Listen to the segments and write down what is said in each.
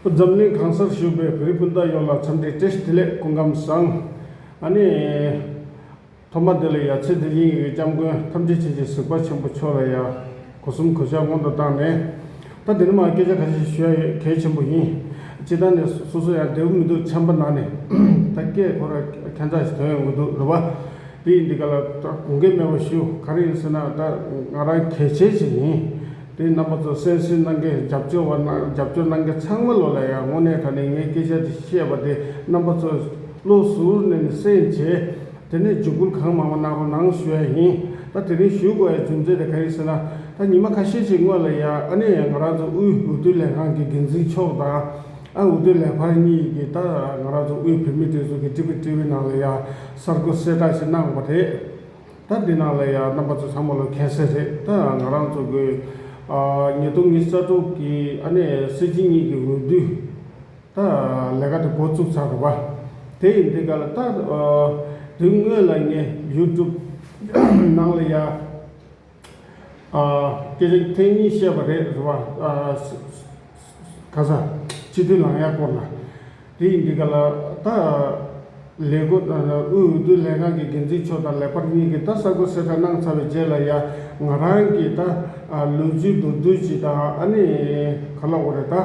པོ་འཛམ་གླིང་གང་སར་བཞུགས་པའི་བོད་རིགས་སྤུན་ཟླ་ཡོངས་ལ་འཚམས་འདྲི་བཀྲ་ཤིས་བདེ་ལེགས་སྐུ་ཁམས་བཟང། ཨ་ནི། ཐོག་མ་དེ་ལ་ཡ་ཚེ་འདི་དབྱིན་ཡིག་གི་སྐྱབས་མགོན་ཐམས་ཅད་ཆེན་གྱི་གཟིགས་པ་ཆེན་པོ་མཆོག་ལ་ཡ། གོ་གསུམ་གོ་ཆ་སྔོན་དུ་བཏང་ནས། ད་དེ་རིང་མ་སྐད་ཆ་ཁ་ཤས་ཞུ་ཡ་ཡོད་གལ་ཆེན་པོ་ཡིན། སྤྱི་ཐང་ནས་སོ་སོ་ཡང་བདེ་བོ་མི་འདུག་ཆམ་པ་ནང་ནས་ད་སྐད་ཁོ་ར་ཁྱད་མཚར་ཞིག་ཐོན་ཡོང་གི་འདུག་རེད་བ། དེ་ཡིན་འདི་ག་ལ་ད་དགོངས་འགལ་མེད་པ་ཞུ་ག་རེ་ཡིན་ཟེར་ན་ད་ང་རང་གལ་ཆེན་ཞིག་ཡིན། དེ་རྣམ་པ་ཚོ་གསན་བསུས་གནང་མཁན་རྒྱབ་སྐྱོར་བ་རྣམས་རྒྱབ་སྐྱོར་གནང་མཁན་ཚང་མ་ལོ་ལ་ཡང་དངོས་གནས་ད་ནི་ངས་སྐད་ཆ་དེ་བཤད་པ་དེ་རྣམ་པ་ཚོས་བློ་ཟུར་ནས་ནི་གསན་བྱས། དེ་ནས་འཇུག་སྐུལ་གང་མང་པོ་གནང་རོགས་གནང་ཞུ་ཡ་ཡིན། ད་དེ་རིང་ཞུ་དགོས་ཡ་རྒྱུ་མཚན་དེ་ག་ཡིན་ཟེར་ན། ད་ཉིན་མ་ཁ་ཤས་ཤིག་སྔོན་ལ་ཡ་ཨ་ནེ་ཡ་ང་རང་ཚོ་དབུས་འོས་བསྡུ་ལས་ཁང་གི་འགན་འཛིན་མཆོག་དང། ཨ་འོས་བསྡུ་ལས་འཕར་གཉིས་ཡིག་གིས་ད་ང་རང་ཚོ་དབུས་བོད་མི་སྒྲིག་འཛུགས་ཀྱི་ཀྲི་པུའི་ཀྲི་བུའི་ནང་ལ་ཡ་གསར་འགོད་གསལ་བསྒྲགས་ཤིག་གནང་བ་རེད། ད་འདི་ནང་ལ་ཡང་རྣམ་པ་ཚོ་ཚང་མ་ལ་གན་སེ་རེད་ད་ང་རང་ཚོ་དགོས། ཉེ་དུ་མི་ས་དྲུག་གི་ཨ་ནེ་སི་ཇི་གཉིས་ཀྱི་འོས་བསྡུ་ད་ལས་ཀ་དེ་འགོ་བཙུགས་ཚར་རེད་པ། དེ་ཡིན་དེ་ག་ལ་ད་དེ་དངོས་ལ་ངས YouTube ནང་ལ་ཡང་སྐད་ཆ་ཐེངས་གཉིས་བཤད་པ་རེད་རེད་བ། ག་ས་སྤྱི་འཐུས་ལང་ཡག་སྐོར་ལ། དེ་ཡིན་དུས་ག་ལ་ད། ལས་སྒོ་དང་དབུས་འོས་བསྡུ་ལས་ཁང་གི་འགན་འཛིན་མཆོག་དང་ལས་འཕར་གཉིས་ཀྱིས་ད་གསར་འགོད་གསལ་བསྒྲགས་གནང་ཚར་བའི་རྗེས་ལ་ཡ། ང་རང་གིས་ད། ལུས་རྩུབ་མདོར་བསྡུས་ཅིག་དང་ཨ་ནི། ག་ལ་འོ་རེད་ད།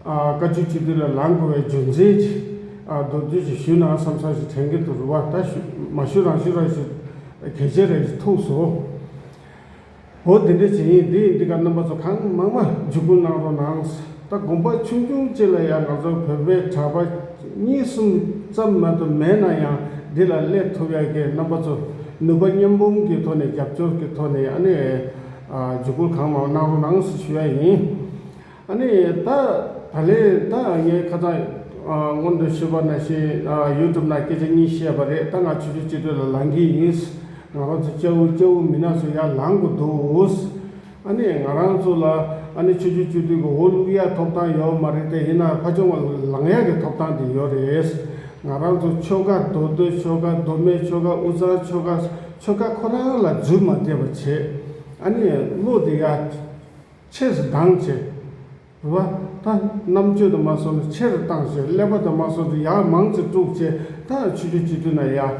བཀའ་བཅུ་གཅིག་བསྡུས་ལ་ལངས་དགོས་བའི་རྒྱུ་མཚན་ཅི། མདོར་བསྡུས་ཅིག་ཞུས་ན་བསམ་བསམ་ཞིག་དྲན་གྱི་འདུག་རེ་བ་ད་ཞུ་མ་ཞུ་རང་ཞུ་རང་ཞུ། གལ་ཆེ་རེད་ཅེས་ཐུགས་སོ། འོ་དེ་འདྲ་བྱེད་ཡིན་དེ་འདི་ག་རྣམ་པ་ཚོ་གང་མང་མ་འཇུག་སྐུ་གནང་རོགས་གནང། ད་དགོངས་པ་ཆུང་ཆུང་གཅིག་ལ་ཡང་ང་ཚོ་བོད་པའི་གྲྭ་པ་གཉིས་གསུམ་ཙམ་མ་གཏོགས་མེད་ན་ཡང་འདི་ལ་སླེབས་ཐུབ་ཡག་གི་རྣམ་པ་ཚོ་ནུས་པ་མཉམ་འབུམ་གྱི་ཐོག་ནས་རྒྱབ་སྐྱོར་གྱི་ཐོག་ནས་ཨ་ནེ་འཇུག་སྐུ་གང་མང་གནང་རོགས་གནང་ཞུ་ཡ་ཡིན། ཨ་ནི་ད་ད་ལེ་ད་ངའི་ཁ་ཚང་སྔོན་དུ་ཤོད་པ་ན་བཞིན YouTube ན་སྐད་ཆ་གཉིས་བཤད་པ་རེད་ད་ང་ཆུ་ཆུ་གཅིག་སྒྲིལ་ལ་ལང་གི་ཡིན་ང་རང་ཚོ་སྐྱ་བོ་སྐྱ་བོ་མི་ན་ཚོ་ཡར་ལང་དགོས་འདུག་ཨ་ནི་ང་རང་ཚོ་ལ་ཨ་ནི་ཆུ་ཆུ་གཅིག་སྒྲིལ་གྱི་འོ་བླུགས་ཡ་ཐོབ་ཐང་ཡོད་མ་རེད་དེ་ཡིན་ན་ཕ་ཆུང་བ་ལང་ཡ་གི་ཐོབ་ཐང་དེ་ཡོད་རེད་ང་རང་ཚོ་ཆོལ་ཁ་མདོ་སྟོད་ཆོལ་ཁ་མདོ་སྨད་ཆོལ་ཁ་དབུས་གཙང་ཆོལ་ཁ་ཆོལ་ཁ་ཁོ་རང་ལ་རྫུན་མ་བསྡད་པ་བྱེད་ཨ་ནི་བློ་དེ་ཡ། ཆས་སུ་ལྡང་བྱེད། བ་ད། རྣམ་དཔྱོད་དུ་མ་སོང་ན་ཆེར་བཏང་བྱེད་ཀླད་པ་དུ་མ་སོང་ཚེ་ཡག་མང་ཚེ་དཀྲུགས་བྱེད་ད་ཆུ་རྒྱུ་ཅི་ཐུ་ན་ཡག།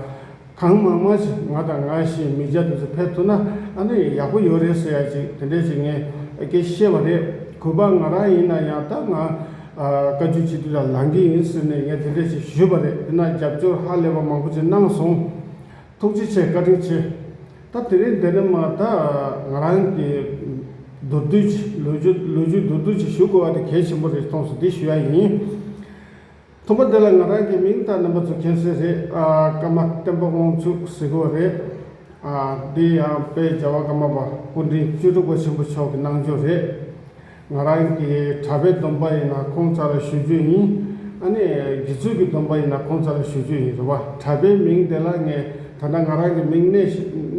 གང་མང་མང་བྱེད་ང་དང་ང་བཞིན་མི་བརྒྱ་དུ་ཚོད་ཕེབས་ཐུ་ན་ཨ་ན་ཡག་པོ་ཡོད་རེད་ཟེར་ཡ་ཅིག་དེ་འདྲས་བྱེད་ངས་ཀྱི་ཤེས་པ་རེད་གུས་པ་ང་རང་ཡིན་ན་ཡང་ད་ང་བཀའ་བརྒྱུད་སྤྱི་འཐུས་ལ་ལང་གི་ཡིན་ཟེར་ནས་ངས་དེ་འདྲས་བྱེད་ཞུས་པ་རེད་དེ་ན་རྒྱབ་སྐྱོར་ཧ་ལས་པ་མང་པོ་ཅིག་གནང་སོང། ཐུགས་རྗེ་ཆེ་བཀའ་དྲིན་ཆེ། ད་དེ་རིང་འདི་ནས་མ་ད་ང་རང་གི་མདོར་བསྡུས་ཀྱི་ལོ་རྒྱུས་ལོ་རྒྱུས་མདོར་བསྡུས་ཀྱི་ཞུ་དགོས་བ་དེ་གལ་ཆེན་པོ་རེད་མཐོང་སོང་འདི་ཞུ་ཡ་ཡིན། མཐོང་པ་འདི་ལ་ང་རང་གི་མིང་དང་རྣམ་པ་བཙུགས་མཁན་སེ་རེད་ཨ་ཀརྨ་བསྟན་པ་དབང་ཕྱུག་ཟེར་དགོས་རེད་ཨ་འདི་ཡང་དཔལ་རྒྱལ་བ་ཀརྨ་པ་སྐུ་དྲིན་བཅུ་དྲུག་པ་ཆེན་པོ་མཆོག་གི་གནང་སྦྱོར་རེད། ང་རང་གི་གྲྭ་པའི་སྡོམ་པ་ཡིན་ན་ཁོང་ཚ་ལ་ཞུ་རྒྱུ་ཡིན། ཨ་ནེ་རྒྱུ་ཚོད་ཀྱི་སྡོམ་པ་ཡིན་ན་ཁོང་ཚ་ལ་ཞུ་རྒྱུ་ཡིན་རེད་བ། གྲྭ་པའི་མིང་དེ་ལ་ངས་ད་ལྟ་ང་རང་གི་མིང་གནས་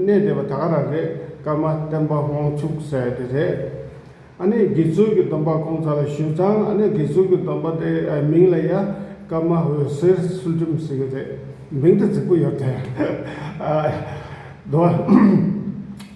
གནས་བསྡད་པ་ད་ག་རང་རེད་སྐར་མ་བསྟན་པ་དབང་ཕྱུག་ཟེར་དེ་རེད། ཨ་ནེ་རྒྱུ་ཚོད་ཀྱི་སྡོམ་པ་ཁོང་ཚ་ལ་ཞུས་ཙང་ཨ་ནེ་རྒྱུ་ཚོད་ཀྱི་སྡོམ་པ་དེ་མིང་ལ་ཡ་སྐར་མ་འོད་ཟེར་ཚུལ་ཁྲིམས་ཟེར་གྱི་རེད་མིང་དེ་རྫིག་པོ་ཡོད་དེ།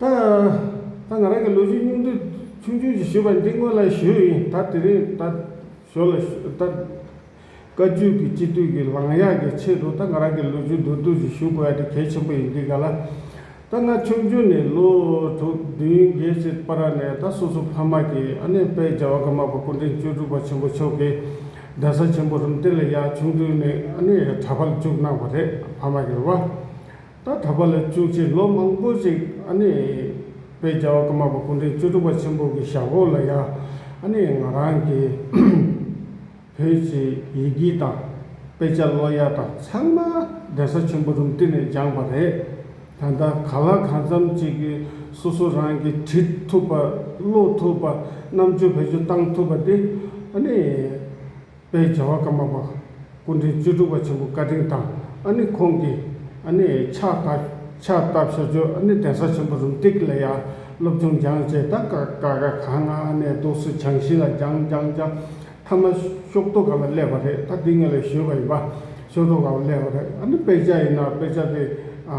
ད་ད་ང་རང་གི་ལོ་རྒྱུས་སྙིང་བསྡུས་ཆུང་ཆུང་ཞིག་ཞུས་པ་འདི་སྔོན་ལ་ཞུས་ཡིན་ད་དེ་རིང་ད་ཞོར་ལ་ཞུས་ད། བཀའ་བརྒྱུད་ཀྱི་སྤྱི་འཐུས་ཀྱི་ལངས་གཡག་གི་ཆེད་དུ་ད་ང་རང་གི་ལོ་རྒྱུས་མདོར་བསྡུས་ཤིག་ཞུ་དགོས་ཡ་དེ་གལ་ཆེན་པོ་ཡིན་འདི་ག་ལ། ད་ང་ཆུང་ཆུང་ནས་ལོ་དྲུག་བདུན་བརྒྱད་ཅེ་པ་ར་ནས་ད་སོ་སོ་ཕ་མ་གྱི་ཨ་ནེ་དཔལ་རྒྱལ་བ་ཀརྨ་པ་སྐུ་འཕྲེང་བཅུ་དྲུག་པ་ཆེན་པོ་མཆོག་གི་གདན་ས་ཆེན་པོ་རུམ་གཏེར་ལ་ཡག་ཆུང་དུས་ནས་ཨ་ནེ་ཡ་གྲྭ་ཕར་འཇུག་གནང་བ་རེད་ཕ་མ་གྱི་རེ་བ་ད་ད་པ་ལ་བཅུ་ཆའི་ལོ་མང་པོ་ཞིག་ཨ་ནི་བོད་རྒྱ་བ་ཀརྨ་པ་སྐུ་ཕྲེང་བཅུ་དྲུག་པ་ཆེན་པོ་གི་ཞབས་འོག་ལ་ཡང་ཨ་ནི་ང་རང་གི་བོད་ཀྱི་ཡི་གེ་དང་དཔེ་ཆ་ཀློག་ཡ་དང་ཚང་མ་གདན་ས་ཆེན་པོ་རུམ་བསྟི་ནས་སྦྱངས་པ་རེད། ད་ལྟ་ག་ལ་གང་འཚམ་ཅིག་གི་སོ་སོ་རང་གི་བྲིས་ཐུབ་པ་ཀློག་ཐུབ་པ་རྣམ་དཔྱོད་བེད་སྤྱོད་བཏང་ཐུབ་པ་དེ་ཨ་ནི་པའི་བྱ་བ་ཀརྨ་པ་སྐུ་འཕྲེང་བཅུ་དྲུག་པ་ཆེན་པོ་བཀའ་དྲིན་དང་ཨ་ནི་ཁོང་གི་ཨ་ནི་ཕྱག་བསྟར་ཕྱག་བསྟར་བྱ་སྤྱོད་ཨ་ནི་གདན་ས་ཆེན་པོ་རུམ་སྟེགས་ལ་ཡང་སློབ་སྦྱོང་སྦྱངས་བཅས་ད་ཀ་ཀ་ཀ་ག་ང་ཨ་ནི་རྡོ་སུ་བྱང་ཤིང་ལ་སྦྱངས་སྦྱངས་སྦྱངས་མཐའ་མ་ཤོག་ཐོ་ག་ལ་སླེབས་པ་རེད་ད་འདི་ངས་ལ་ཞོས་པ་ཡིན་པ་ཤོག་ཐོ་ག་ལ་སླེབས་པ་རེད་ཨ་ནི་དཔེ་ཆ་ཡིན་ན་དཔེ་ཆ་དེ་ཨ།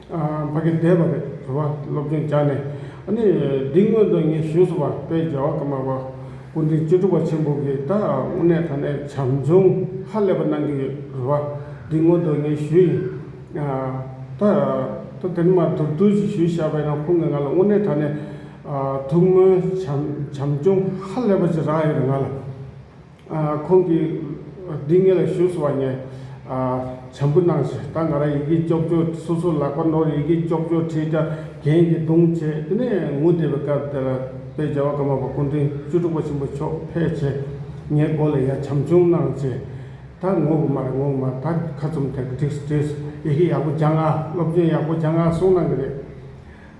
ཕ་གི་དད་པ་རེད་བུ་བ་སློབ་སྦྱོང་བྱ་ནས་ནི་འདི་སྔོན་དུ་ངས་ཞུས་སོ་བ་དཔལ་རྒྱལ་བ་ཀརྨ་པ་སྐུ་འཕྲེང་བཅུ་དྲུག་པ་ཆེན་པོ་གིས་ད་དངོས་གནས་ད་ནས་བྱམས་སྦྱོང་ཧ་ལས་པ་གནང་གི་ཡོད་རེད་བ་འདི་སྔོན་དུ་ངས་ཞུས་ཡིན། ད་ད་དེ་ནི་མ་ཐུག་དུས་ཞིག་ཞུས་བཞག་པས་ན་ཁོང་གིས་ང་ལ་དངོས་གནས་ད་ནས་ཐུགས་སྨོན་བྱམས་སྦྱོང་ཧ་ལས་པ་ཞིག་རག་ཡོད་རེད་ང་ལ། ཁོང་གིས་འདི་ངེད་ལ་ཞུས་སོང་བ་ངས་བྱམས་པོ་གནང་ཞེས་ད་ང་རང་ཡི་གེ་ཅོག་ཅོག་སོ་སོ་ལག་པ་ནོར་ཡི་གེ་ཅོག་ཅོག་བྲིས་ཀྱང་གྱེན་གྱི་རྡུང་བྱས་དེ་ནས་ངུ་བསྡད་པའི་སྐབས་དེར་དཔལ་རྒྱལ་བ་ཀརྨ་པ་སྐུ་འཕྲེང་བཅུ་དྲུག་པ་ཆེན་པོ་མཆོག་ཕེབས་ཆེ་ངའི་མགོ་ལ་ཡར་བྱམས་ཆུང་གནང་ཞེས་ད་ངུ་གི་མ་རེད་ངུ་གི་མ་རེད་ད་ཁ་ཚུམས་ཐེངས་གཅིག་བྲིས་སོང་ཡི་གེ་ཡག་པོ་སྦྱངས་ཨ་སློབ་སྦྱོང་ཡག་པོ་སྦྱངས་ཨ་གསུངས་གནང་གི་རེད།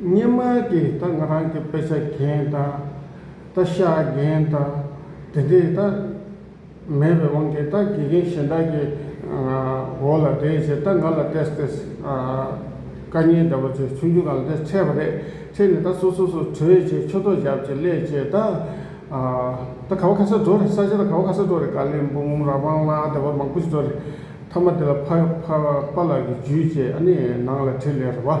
སྙེ་མོ་དེས་ད་ང་རང་གི་དཔེ་ཆ་གན་ད་ད་ཤ་གན་ད་དེ་འདྲས་ད་མེད་པའི་དབང་གིས་ད་དགེ་རྒན་གཞན་དག་གི་འོག་ལ་བསྡད་བྱས་ད་ང་ལ་བསྟས་བསྟས་དཀའ་ངལ་འདྲ་བ་ཚོས་ཆུང་ཆུང་གང་ལ་དེ་འཕྲད་པ་རེད་འཕྲད་ནས་ད་སོ་སོ་སོ་བྲོས་བྱས་ཆོ་ཐོ་བཞག་བྱས་སླད་བྱས་ད་ད་ག་བ་ཁ་སར་འགྲོ་རེད་ས་ཆ་ད་ག་བ་ཁ་སར་འགྲོ་རེད་ཀ་ལིམ་པོང་ར་པང་ལ་དེ་བ་མང་པོ་ཞིག་འགྲོ་རེད་མཐའ་མ་དེ་ལ་ཕ་ཕ་ལགས་ཀྱིས་ཇུས་བྱས་ཨ་ནི་ནང་ལ་ཁྲིད་ལེ་རེད་བ།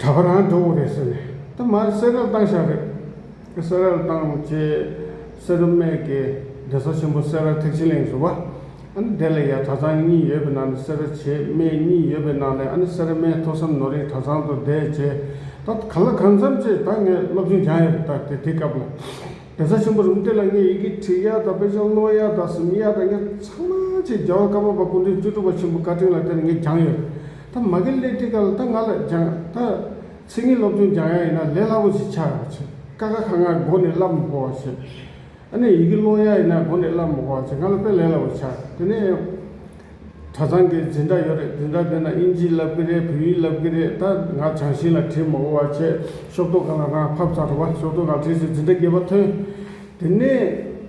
གྲྭ་པ་རང་འགྲོ་འོ་རེད་ཟེར་ནས་ད་མ་གསལ་རེད་བཏང་ཞག་རེད། གསལ་ར་བཏང་རྗེས་གསེར་རུ་སྨད་ཀྱི་སྡེ་ས་ཆེན་པོ་གསལ་ར་ཐེག་ཆེན་གླིང་བཟོ་བ་ཨ་ནི་དེ་ལ་ཡང་གྲྭ་ཚང་གཉིས་ཡོད་པའི་ནང་ནས་གསེར་ར་བྱེས་སྨད་གཉིས་ཡོད་པའི་ནང་ནས་ཨ་ནི་གསེར་ར་སྨད་ཐོས་བསམ་ནོར་གཡེང་གྲྭ་ཚང་དུ་བསྡད་རྗེས་ད་ག་ལ་གང་འཚམས་ཆེ་ད་ངས་སློབ་ཆུང་སྦྱངས་ཡོད་རེད་ད་དེ་དེ་སྐབས་ལ། རྒྱལ་ས་ཆེན་པོ་རུམ་ཏེ་ལ་ལྔའི་ཡི་གེ་ཁྲི་གཡག་དང་དཔེ་ཆུང་རྣོ་གཡག་དང་ཟུམ་གཡག་དང་གཉན་ཚང་མ་ཆེས་རྒྱལ་བ་བཀའ་བབས་པ་སྐུ་མགྲོན་བཅུ་དྲུག་པ་ཆེན་པོ་བཀའ་དྲིན་ལ་དེར་ངས་སྦྱངས་ཡོད། ད་མ་གི་སླེ་ཏི་ཀ་ལ་ད་ང་ལ་སྦྱངས་ད་ཚིག་ངན་སློབ་ཆུང་སྦྱངས་ཡག་ཡིན་ན་ལས་སླ་པོ་ཞིག་ཆགས་ཡོང་ཆེ་ཀ་ཀ་ཁ་ང་མགོ་ནས་སླབ་མགོ་བ་ཆེ་ཨ་ནེ་ཡི་གེ་ཀློག་ཡག་ཡིན་ན་མགོ་ནས་སླབ་མགོ་བ་ཆེ་ང་ལ་དཔེ་ལས་སླ་པོ་ཆགས་དེ་ནས། གྲྭ་ཚང་གི་འཛིན་གྲྭ་ཡོད་རེད་འཛིན་གྲྭ་དེ་ན་དབྱིན་ཇི་བསླབ་ཀྱི་རེད་བོད་ཡིག་བསླབ་ཀྱི་རེད་ད་ང་བྱང་ཞིང་ལ་བྲིས་མ་གོ་བ་ཆད་ཤོག་ཏོག་ག་ལ་རང་ཕབ་ཚར་རོ་བ་ཤོག་ཏོག་རང་བྲིས་ཚེ་འཛིན་གྲྭ་བརྒྱད་པ་ཐོན། དེ་ནས་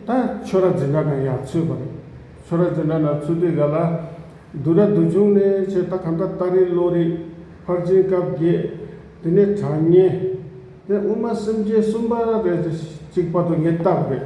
ད་ཆོས་ར་འཛིན་གྲྭ་ན་ཡང་ཚུད་པ་རེད་ཆོས་ར་འཛིན་གྲྭ་ན་ཚུད་དུས་ག་ལ་འདུག་ར་འདུག་བྱུང་ནས་ཆད་ད་ག་འདྲ་ལྟ་རེད་བློ་རེད་ཕར་ཕྱིན་སྐབས་བརྒྱད་དེ་ནས་གྲྭ་བསྙེན། དེ་དབུ་མ་སེམས་བསྐྱེད་གསུམ་པ་རེད་ཚེ་གཅིག་པ་དོ་ངེས་རྟགས་རེད།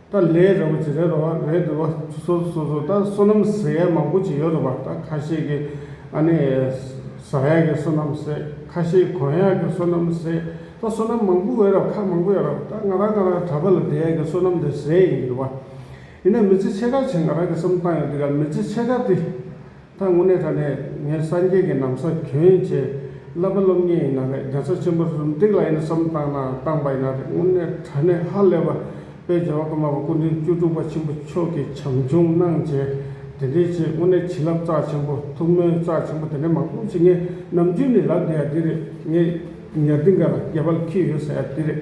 ད་ལས་རེ་བ་ཇི་རེ་རེ་བ་རེད་འདུག་བ་སོ་སོ་སོ་ད་བསོད་ནམས་ཟེར་ཡས་མང་པོ་ཅིག་ཡོད་རེད་བ་ད་ཁ་ཤས་ཀྱི་ཨ་ནི་ཟ་ཡས་ཀྱི་བསོད་ནམས་ཟེར་ཁ་ཤས་གོན་ཡས་ཀྱི་བསོད་ནམས་ཟེར་ད་བསོད་ནམས་མང་པོ་ཡོད་རེད་བ་ཁ་མང་པོ་ཡོད་རེད་བ་ད་ང་རང་ང་རང་གྲྭ་པ་ལ་དེ་ཡས་ཀྱི་བསོད་ནམས་དེ་ཟེར་ཡིན་གྱི་འདུག་བ། ཡིན་ན་མི་ཚེ་ཕྱེད་ཀ་ཆེད་ང་རང་གི་བསམ་སྟངས་ཡོད་འདུག་ག་མི་ཚེ་ཕྱེད་ཀ་དེ་ད་དངོས་གནས་ད་ནས་ངས་སངས་རྒྱས་ཀྱི་ནམ་མཁའ་གྱོན་བྱས་བསླབ་པ་སློབ་ངེས་ཡིན་ན་རེད་རྒྱལ་ས་ཆེན་པོ་རུ་འགྲིག་ལ་ཡིན་ན་བསམ་བཏང་ན་བཏང་པ་ཡིན་ན་རེད་དངོས་གནས་ད་ནས་ཧ་ལས་པ་དཔལ་རྒྱལ་བ་ཀརྨ་པ་སྐུ་མགྲོན་བཅུ་དྲུག་པ་ཆེན་པོ་མཆོག་གི་བྱམས་སྐྱོང་གནང་བྱས་དེ་འདྲའི་ཆེད་དངོས་གནས་བྱིན་རླབས་རྩ་ཆེན་པོ་ཐུགས་སྨོན་རྩ་ཆེན་པོ་དེ་འདྲའི་མང་པོ་བྱིན་ངས་ནམ་རྒྱུན་ནས་ལབ་བསྡད་ཡ་འདི་རེད་ངས་ཉར་འདི་འགའ་ལ་རྒྱལ་པ་ལ་འཁྱུད་ཡོད་ཟེར་ཡ་འདི་རེད།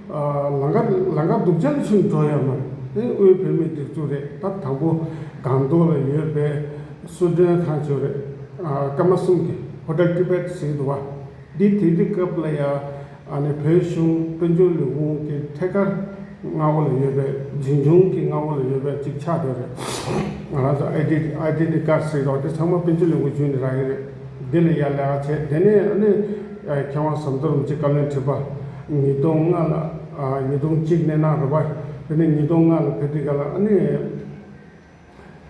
ལང་ཀ་ལང་ཀ་སྡུག་ཅག་ཕྱིན་འགྲོ་ཡ་མ་རེད་དེ་དབུས་བོད་མིའི་སྒྲིག་འཛུགས་རེད་ད་དང་པོ་སྒང་ཏོག་ལ་ཡོད་པའི་གསོལ་མགྲོན་ཁང་ཆོས་རེད་སྐར་མ་གསུམ་གྱི་ཧོ་ཏལ་ཀི་པད་ཟིང་དུ་བ་འདི་དེ་དུས་སྐབས་ལ་ཡ་ནི་བོད་གཞུང་དཔོན་ཆུང་ལུས་ཕུང་གི་ཐད་ཀར་རྔ་བོ་ལ་ཡོད་པའི་འཛིན་སྐྱོང་གི་རྔ་བོ་ལ་ཡོད་པའི་ཅིག་ཆགས་དེ་རེད་ང་རང་ཚོ་ཨའི་ཨའི་ཏི་ནི་ཀར་ཟིག་རོགས་དེ་ཚང་མ་དཔོན་ཆུང་ལུས་ཕུང་བྱུས་ནི་ར་ཡི་རེད་དེ་ལ་ཡ་ལེ་ཨ་བྱས་དེ་ནས་ཨ་ནི་མཁས་དབང་ཟམ་གདོལ་རུང་ཅིག་བཀའ་བློན་ཁྲི་པ། ཉིས་སྟོང་ལྔ་ལ་ཉིས་སྟོང་གཅིག་ནས་གནང་རོགས་པ། དེ་ནས་ཉིས་སྟོང་ལྔ་ལ་བྷེ་ཏི་ཀ་ལ་ཨ་ནི།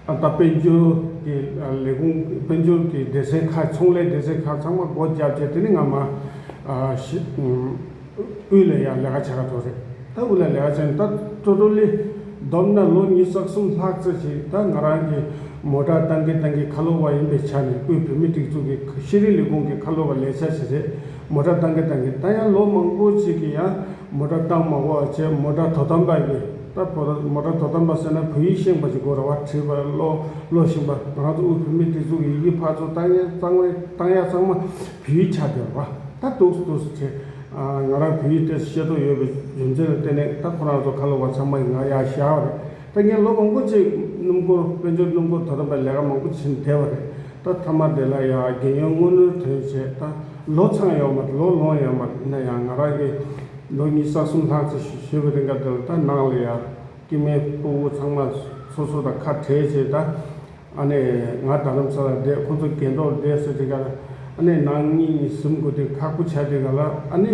ད་ལྟ་དཔལ་འབྱོར་གྱི་ལས་ཁུངས་དཔལ་འབྱོར་གྱི་སྡེ་ཚན་ཁག་ཚོང་ལས་སྡེ་ཚན་ཁག་ཚང་མ་སྒོ་བརྒྱབ་རྗེས་དེ་ནི་ང་མ། དབུས་ལ་ཡང་ལས་ཀ་བྱ་ག་ཐུབ་རེད་ད་དབུས་ལ་ལས་ཀ་བྱས་ནས་ད་ཀྲོ་ཀྲོ་ལི་བསྡོམས་ན་ལོ་གཉིས་རྩ་གསུམ་ལྷག་ཙེ་ཞིག་ད་ང་རང་གིས་མོ་དྲག་བཏང་གིན་བཏང་གིན་ཁ་ལོ་བ་ཡིན་པའི་ཆ་ནས་དབུས་བོད་མི་སྒྲིག་འཛུགས་ཀྱི་ཤེས་རིག་ལས་ཁུངས་ཀྱི་ཁ་ལོ་བ་ལས་བྱ་ཞིག་རེད། མོ་དགྲ་སྟངས་ཀྱི་སྟངས་ཀྱི་སྟངས་ཡང་ལོ་མང་པོ་ཅིག་གི་ཡང་མོ་དགྲ་སྟངས་མ་གོ་བ་བྱས་མོ་དགྲ་དོ་དམ་པ་གི་ད་བོ་ད་མོ་དགྲ་དོ་དམ་པ་ཟེར་ན་བོད་ཡིག་ཤེས་པ་ཅིག་གོ་ར་བ་བྲིས་པ་ལོ་ལོ་བཞིན་པ་ང་རང་ཚོ་དབུས་བོད་མི་དེ་ཚོ་གི་ཡི་གེ་ཕར་ཚུར་གཏང་ཡ་གཙང་བའི་གཏང་ཡ་གཙང་མ་བོད་ཡིག་ཆགས་བསྡད་པ་ད་སྡུག་སུ་སྡུག་སུ་བྱས་ང་རང་བོད་ཡིག་ཏེ་ཤེས་རྟོགས་ཡོད་པའི་རྒྱུ་མཚན་ལ་བརྟེན་ནས་ད་ཁོ་རང་ཚོ་ཁ་ལོ་བ་ཚང་མ་ཡི་ང་ཡ་ཤ་བ་རེད། ད་ངས་ལོ་མང་པོ་བཅས་སྣུམ་འཁོར་དཔལ་འབྱོར་སྣུམ་འཁོར་དོ་དམ་པའི་ལས་ཀ་མང་པོ་བྱིན་བསྡད་པ་རེད་ད་མཐའ་མར་དེ་ལ་ཡང་རྒན་ཡོལ་སྔོན་ནུར་དོན་བྱས་ད་ལོ་ཚང་ཡོང་མ་ལོ་ལོངས་ཡོང་མ་དེ་ན་ཡང་ང་རང་གིས་ལོ་གཉིས་ས་གསུམ་ལྷག་ཙི་ཞིག་བཞེས་པའི་རེ་འགའ་དེ་ལ་ད་ནང་ལ་ཡང་སྐྱེས་དམན་སྤུན་དབུ་ཚང་མ་སོ་སོ་དང་ཁ་བྲལ་བྱས་ད་ཨ་ནེ་ང་རྡ་རམ་ས་ལ་བསྡད་ཁོ་ཚོ་རྒན་འདྲོག་བསྡད་ཟེར་དེ་ག་ལ་ཨ་ནེ་ནང་སྙིང་ནས་ཟིམ་དགོས་དེ་ཁག་པོ་བྱ་དེ་ག་ལ་ཨ་ནེ།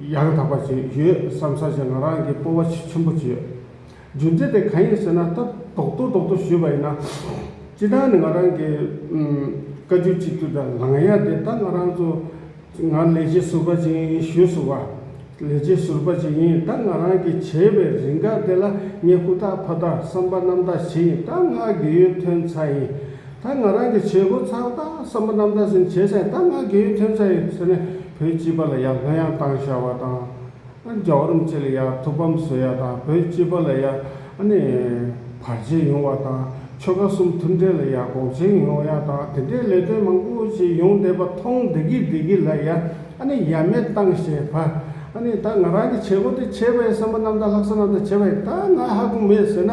ཡང་དག་པ་ཞིག་ཡོད་བསམ་ས་ཞིག་ང་རང་གིས་སྤོ་བ་ཆེས་ཆེན་པོ་བྱས། རྒྱུ་མཚན་དེ་གང་ཡིན་ཟེར་ན་ད་རྡོག་ཐོ་རྡོག་ཐོ་ཞུས་པ་ཡིན་ན། སྤྱི་བཏང་ནས་ང་རང་གིས་བཀའ་བརྒྱུད་གཅིག་གྱུར་དང་ལངས་ཡ་དེ་ད་ང་རང་ཚོ་ང་ལས་བྱེད་ཟུར་པ་ཞིག་ཡིན་ཞུས་ཟུར་བ་ལས་བྱེད་ཟུར་པ་ཞིག་ཡིན་ད་ང་རང་གིས་བྱས་པའི་རིགས་འགའ་དེ་ལ་ངས་ཧུར་ཐག་ཕར་ཐག་བསམ་པ་རྣམ་དག་བྱས་ཡིན་ད་ང་དགེ་ཡོད་ཐོན་ཚ་ཡིན། ད་ང་རང་གི་བྱེད་སྒོ་ཚང་ད་བསམ་པ་རྣམ་དག་ཟིན་བྱས་ཟེར་ད་ང་དགེ་ཡུལ་ཐོན་ས་ཡིན་ཟེར་ནས་བོད་སྤྱི་པ་ལ་ཡ་ང་ཡང་བཏང་ཤ་བ་དང་རྒྱའོ་རུམ་ཚེ་ལ་ཡ་ཐུགས་ཕམ་བཟོས་ཡ་དང་བོད་སྤྱི་པ་ལ་ཡ་ནི་བར་ཆད་ཡོང་བ་དང་ཆོལ་ཁ་གསུམ་མཐུན་འབྲེལ་ལ་ཡ་འགོག་ཆེན་ཡོང་ཡ་དང་དེ་འདྲའི་ལས་དོན་མང་པོ་ཞིག་ཡོང་བསྡད་པ་མཐོང་བསྡད་གི་བསྡད་གི་ལ་ཡ་ནི་ཡ་མེད་བཏང་ཤ་བ་ནི་ད་ང་རང་གི་བྱེད་སྒོ་དེ་བྱས་པ་ཡིན་བསམ་པ་རྣམ་དག་ལྷག་བསམ་རྣམ་དག་བྱས་པ་ཡིན་ད་ང་ཧ་གོ་མེད་ཟེར་ན།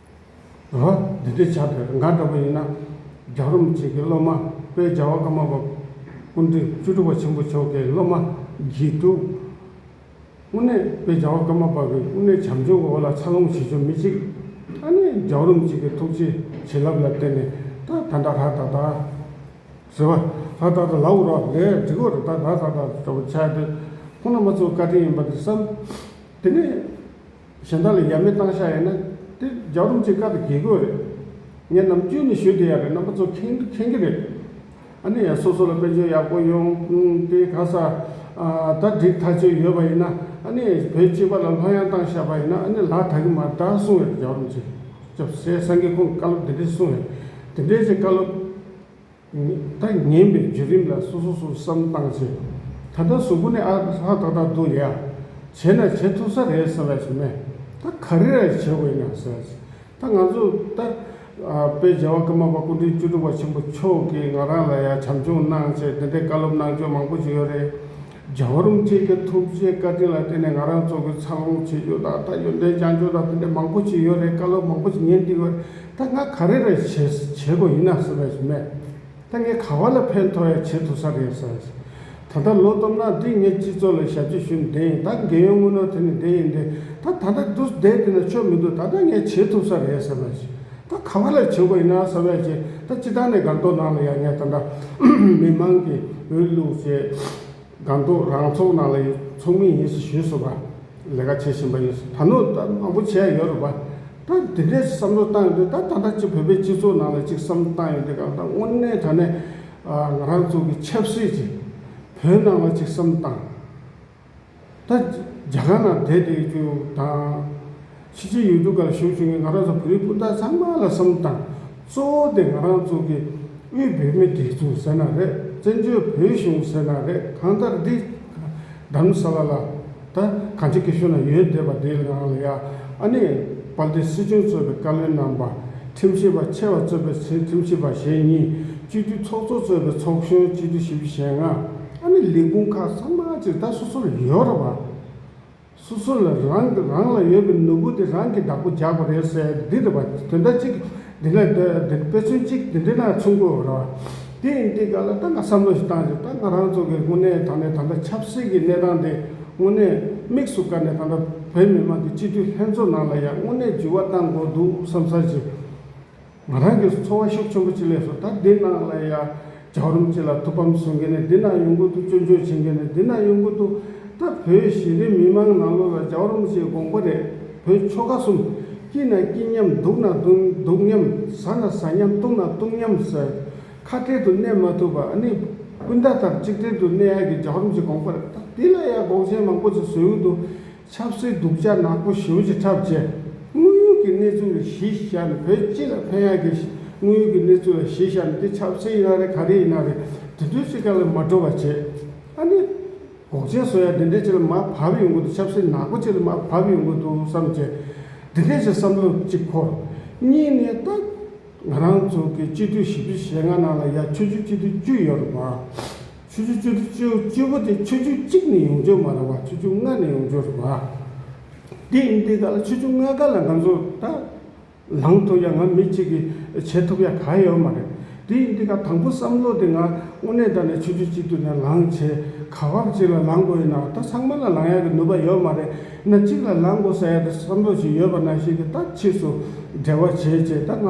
ཨ་ཧ། འདི་འདྲའི་བྱ་བྲལ་འགའ་འདྲ་པོ་ཡིན་ན། རྒྱ་རོམ་བཅས་ཀྱི་སློབ་མ་དཔལ་རྒྱལ་བ་ཀརྨ་པ་ཀུན་འདུས་བཅུ་དྲུག་པ་ཆེན་པོ་མཆོག་གི་སློབ་མ་བགྱིད་དོ། དབུ་ནས་དཔལ་རྒྱལ་བ་ཀརྨ་པ་ཀུན་འདུས་བྱམས་ཆོས་ཀྱི་འོ་ལ་ཚར་ལོངས་བྱེད་ཆོ་མི་གཅིག། ད་ནི་རྒྱ་རོམ་བཅས་ཀྱི་ཐུགས་རྗེའི་བྱིན་རླབས་ལ་བརྟེན་ནས་ད་ད་ད་ར་ད་ད། ཟེར་བ། ད་ད་ད་ལ་འུར་བ་ལས་འགྲིག་གོ་ར་ད་ར་ད་ད་ཟེར་བ་བྱ་དེ་ཁོ་ན་མ་ཚོའི་བཀའ་དྲིན་ཡིན་པ་དེ་བསམ། དེ་ནས། གཞན་དག་ལ་ཡ་མེད་བཏང་ཤག་ཡིན་ན། དེ་རྒྱ་རུམ་གྱི་བཀའ་དང་གེགས་དགོས་རེད། ངས་ནམ་རྒྱུན་ནས་ཞུ་བདེ་ཡག་གི་རྣམ་པ་ཚོ་ཁེངས་དུ་ཁེངས་གི་རེད། ཨ་ནི་ཡང་སོ་སོ་ལ་དཔེ་མཆོག་ཡག་པོ་ཡོང་དེ་ག་ས་ད་སྒྲིག་ཐག་ཆོད་ཡོད་པ་ཡིན་ན་ཨ་ནི་བོད་སྤྱི་པ་ལ་ལྷོད་ཡང་བཏང་ཤག་པ་ཡིན་ན་ཨ་ནི་ལག་ད་གི་མ་ད་གསུང་བའི་རྒྱ་རུམ་གྱི་སྐྱབས་སེ་སངས་རྒྱས་ཁོང་བཀའ་སློབ་དེ་འདྲས་གསུང་བས་དེ་འདྲས་ཀྱི་བཀའ་སློབ། ད་ངན་པའི་བརྒྱུད་རིམ་ལ་སོ་སོ་སུ་སམ་བཏང་ཚེ། ད་ལྟ་གཟུགས་པོ་ནི་ཨ་ཧ་ཐག་ཐག་འདུག་ཡ། བྱས་ན་བྱེད་ཐུབ་ས་རེད་ཟེར་བ་ཞིག་མེད། ད་ག་རེ་རེད་བྱེད་དགོས་སྙམ་ཟེར། ད་ང་ཚོ་ད་དཔེ་རྒྱལ་བ་ཀརྨ་པ་སྐུ་ཕྲེང་བཅུ་དྲུག་པ་ཆེན་པོ་མཆོག་གིས་ང་རང་ལ་ཡང་བྱམས་སྐྱོང་གནང་ཆེད་འདི་འདྲའི་བཀའ་སློབ་གནང་སྐྱོང་མང་པོ་བྱེད་ཡོད་རེད། རྒྱ་བོད་རིམ་བཅས་ཀྱི་ཐུགས་རྗེའི་བཀའ་དྲིན་ལ་བརྟེན་ནས་ང་རང་ཚོ་གི་འཚར་ལོངས་བྱེད་རྒྱུ་དང་ད་ཡོན་ཏན་བསྐྱང་རྒྱུ་དང་ཕན་འབྲས་མང་པོ་ཞིག་ཡོད་རེད་བཀའ་སློབ་མང་པོ་ཞིག་ཉན་སྡིག་བར་ད་ང་ག་རེ་རེ་བྱེད་བྱེད་དགོས་ཡིན་ན་ཟེར་བ་ཞིག་མེད་ད་ངས་ག་བ་ལ་ཕན་ཐོག་ཡ་བྱེད་ཐུབ་ས་རེད་ཟེར་བ་ཞིག་ད་ལྟ་ལོ་སྟོབས་ནག་འདིས་ངའི་སྤྱི་ཚོགས་ལ་ཞབས་ཕྱི་ཞུས་ནས་བསྡད་ཡིན་ད་འགན་ཡོན་དངུལ་ནོར་ཐོན་ནས་བསྡད་ཡིན་དེ་ད་ད་ལྟ་འདུག་བསྡད་འདི་ན་ཆོ་མི་འདུག་ད་ད་ངས་བྱེད་ཐུབ་ས་རེད་ཟེར་བ་ཞིག། ད་ག་བ་ལ་བྱེད་དགོས་ཡིན་ན་ཟེར་བའི་ཆེད་ད་སྤྱི་བཏང་ནས་སྒང་ཏོག་ནང་ལ་ཡར་ཉེ་ད་འདྲ་མི་མང་གི་འོས་བླུག་ཆེད་སྒང་ཏོག་རང་ཚོགས་ནང་ལ་ཚོགས་མི་ཡིན་ཟེར་ཞུས་སོང་བ་ལས་ཀ་བྱེད་བཞིན་པ་ཡིན་ད་ནུ་ད་མང་པོ་བྱས་ཡོད་རེད་པ་ད་དེ་འདྲའི་བསམ་བློ་བཏང་ཡོད་དུས་ད་ད་ལྟ་སྤྱི་བོད་པའི་སྤྱི་ཚོགས་ནང་ལ་ཅིག་བསམ་བློ་བཏང་ཡོད་དུས་གང་ལྟར་དངོས་གནས་ད་ནས་ང་རང་ཚོ་གི་ཆབ་སྲིད་ཅིག་བོད་ནང་ལ་ཅིག་བསམ་བཏང། ད་རྒྱ་གར་ནང་བསྡད་དེ་རྒྱུ་དང། ཕྱི་ཕྱི་ཡུལ་གྲུ་འགའ་ལ་བཞུགས་བྱུང་བའི་ང་རང་ཚོ་བོད་རིགས་སྤུན་ཟླ་ཚང་མ་ལ་གསུམ་དང། གཙོ་བོ་དེ་ང་རང་ཚོ་གི་དབུས་བོད་མི་དགེ་ཚུལ་ཟེར་ན་རེད་བཙན་བྱོལ་བོད་གཞུང་ཟེར་ན་རེད་གང་ལྟར་འདི་གདམ་ས་བ་ལ་ད་གང་ཅི་གི་ཤུ་ན་ཡོད་བསྡད་པ་དེའི་ནང་ལ་ཡ་ཨ་ནེ་པཱལ་ཏི་སྲིད་སྐྱོང་གཙོས་པའི་བཀའ་བློན་རྣམ་པ་ཁྲིམས་ཞིབ་པ་ཆེ་བ་གཙོས་པའི་ཁྲིམས་ཞིབ་པ་ཞེ་གཉིས་སྤྱི་འཐུས་ཚོགས་གཙོ་གཙོས་པའི་ཚོགས་གཞོན་སྤྱི་འཐུས་བཞི་བཞི་ཞེ་ལྔ། ཨ་ནི་ལས་ཁུངས་ཁག་ཚང་མ་ཇི་ལྟར་སོ་སོར་ཡོད་རབས་ཨ། སོ་སོ་ལ་རང་གི་རང་ལ་ཡོད་པའི་ནོར་བུ་དེ་རང་གིས་བདག་པོ་རྒྱག་པ་རེད་ཟེར་འདི་རེད་པ་དོན་དག་ཅིག་འདི་ན་དཔེ་མཚོན་གཅིག་འདི་འདྲེ་ན་ཆུ་མགོ་རེད་པ་དེ་ཡིན་དེ་ག་ལ་ད་ང་བསམ་བློ་ཞིག་བཏང་ཞིག་ད་ང་རང་ཚོ་གི་དངོས་གནས་ད་ནས་ད་ལྟ་ཆབ་སྲིད་ཀྱི་གནས་སྟངས་དེ་དངོས་གནས་དམིགས་སུ་བཀར་ནས་ད་ལྟ་བོད་མི་དམངས་ཀྱི་སྤྱི་འཐུས་ལྷན་ཚོགས་ནང་ལ་ཡང་དངོས་གནས་འགྱུར་བ་བཏང་དགོས་འདུག་བསམ་བསམ་བྱས། ང་རང་གིས་འཚོ་བ་ཤུགས་ཆེན་པོ་ཅིག་ལས་སོ་ད་འདི་ན་ལ་ཡ་རྒྱག་རུམ་ཅིག་ལ་ཐུགས་ཕམ་བཟོ་མཁན་ནས་འདི་ན་ཡོང་གི་འདུག་སྐྱོན་བརྗོད་བྱེད་མཁན་ནས་འདི་ན་ཡོང་གི་འདུག་ད་བོད་གཞི་རིམ་མི་མང་ནང་ལོག་ལ་རྒྱག་རུམ་ཅིག་དགོངས་པ་རེད་བོད་ཆོལ་ཁ་གསུམ་སྐྱིད་ན་སྐྱིད་མཉམ་སྡུག་ན་སྡུག་མཉམ་ཟ་ན་ཟ་མཉམ་བཏུང་ན་བཏུང་མཉམ་ཟེར་ཁ་བྲལ་དུ་གནས་མ་ཐུབ་པ་ནི་སྤུན་ཟླ་དག་གཅིག་བྲལ་དུ་གནས་ཡག་གི་རྒྱག་རུམ་ཅིག་དགོངས་པ་རེད་ད་འདི་ལ་ཡ་འགོག་མཁན་མང་པོ་ཅིག་བཟོས་ཡོད་འདུག། ཆབ་སྲིད་སྡུག་ཅག་ནག་པོ་ཞེའུ་ཅི་འཁྲབ་བྱས། དངོས་ཡོད་ཀྱི་གནས་ཚུལ་ལ་གཞི་བཞག་ནས་བོད་སྤྱི་ལ་ཕན་ཡག་གི་དངོས་ཡོད་ཀྱི་གནས་ཚུལ་ལ་གཞི་བཞག་ནས་འདི་ཆབ་སྲིད་ཡིན་ན་རེད་ག་རེ་ཡིན་ན་རེད་དེ་ཚོའི་ཚིག་ཁ་ལ་མ་འགྲོ་བ་བྱས། ཨ་ནི། འགོག་ཆེན་བཟོ་ཡག་འདི་འདྲའི་ཆེད་ལ་མ་བབས་ཡོང་གི་འདུག་ཆབ་སྲིད་ནག་པོ་ཆེད་ལ་མ་བབས་ཡོང་གི་འདུག་བསམ་བྱས། འདི་འདྲའི་ཆེད་བསམ་བློ་གཅིག་འཁོར། གཉིས་ནས་ད། ང་རང་ཚོ་གི་སྤྱི་འཐུས་བཞི་བཅུ་ཞེ་ལྔ་ནང་ལ་ཡ་ཆུ་བཅུ་སྤྱི་འཐུས་བཅུ་ཡོད་རེད་བ། ཆུ་ཆུ་ཆུ་ཆུ་བཅུ་པོ་དེ་ཆུ་ཆུ་གཅིག་ནས་ཡོང་རྒྱུ་མ་རེད་བ་ཆུ་ཆུ་ལྔ་ནས་ཡོང་རྒྱུ་རེད་བ། དེ་ཡིན་དུས་ག་ལ་ཆུ་ཆུ་ལྔ་ག་ལ་ང་ཚོ་ད་ལངས་ཐུབ་ཡ་ང་མི་གཅིག་གིས་བྱེད་ཐུབ་ཡ་ག་ཡོད་མ་རེད། དེ་ཡིན་དུས་ག་དང་པོ་བསམ་བློ་དེ་ང་དངོས་གནས་ད་ནས་ཆུ་ཆུ་གཅིག་ཏུ་ནས་ལངས་བྱེད་ག་བབ་ཅིག་ལ་ལངས་དགོས་ཡིན་ན་ད་ཚང་མ་ལ་ལངས་ཡ་གི་ནུས་པ་ཡོད་མ་རེད་ན་གཅིག་ལ་ལངས་དགོས་ས་ཡ་ད་བསམ་བློ་ཞིག་ཡོད་པ་ན་ཞིག་གི་ད་ཕྱིས་སུ་འབྲེལ་བ་བྱེད་ཅེས་ད་ང་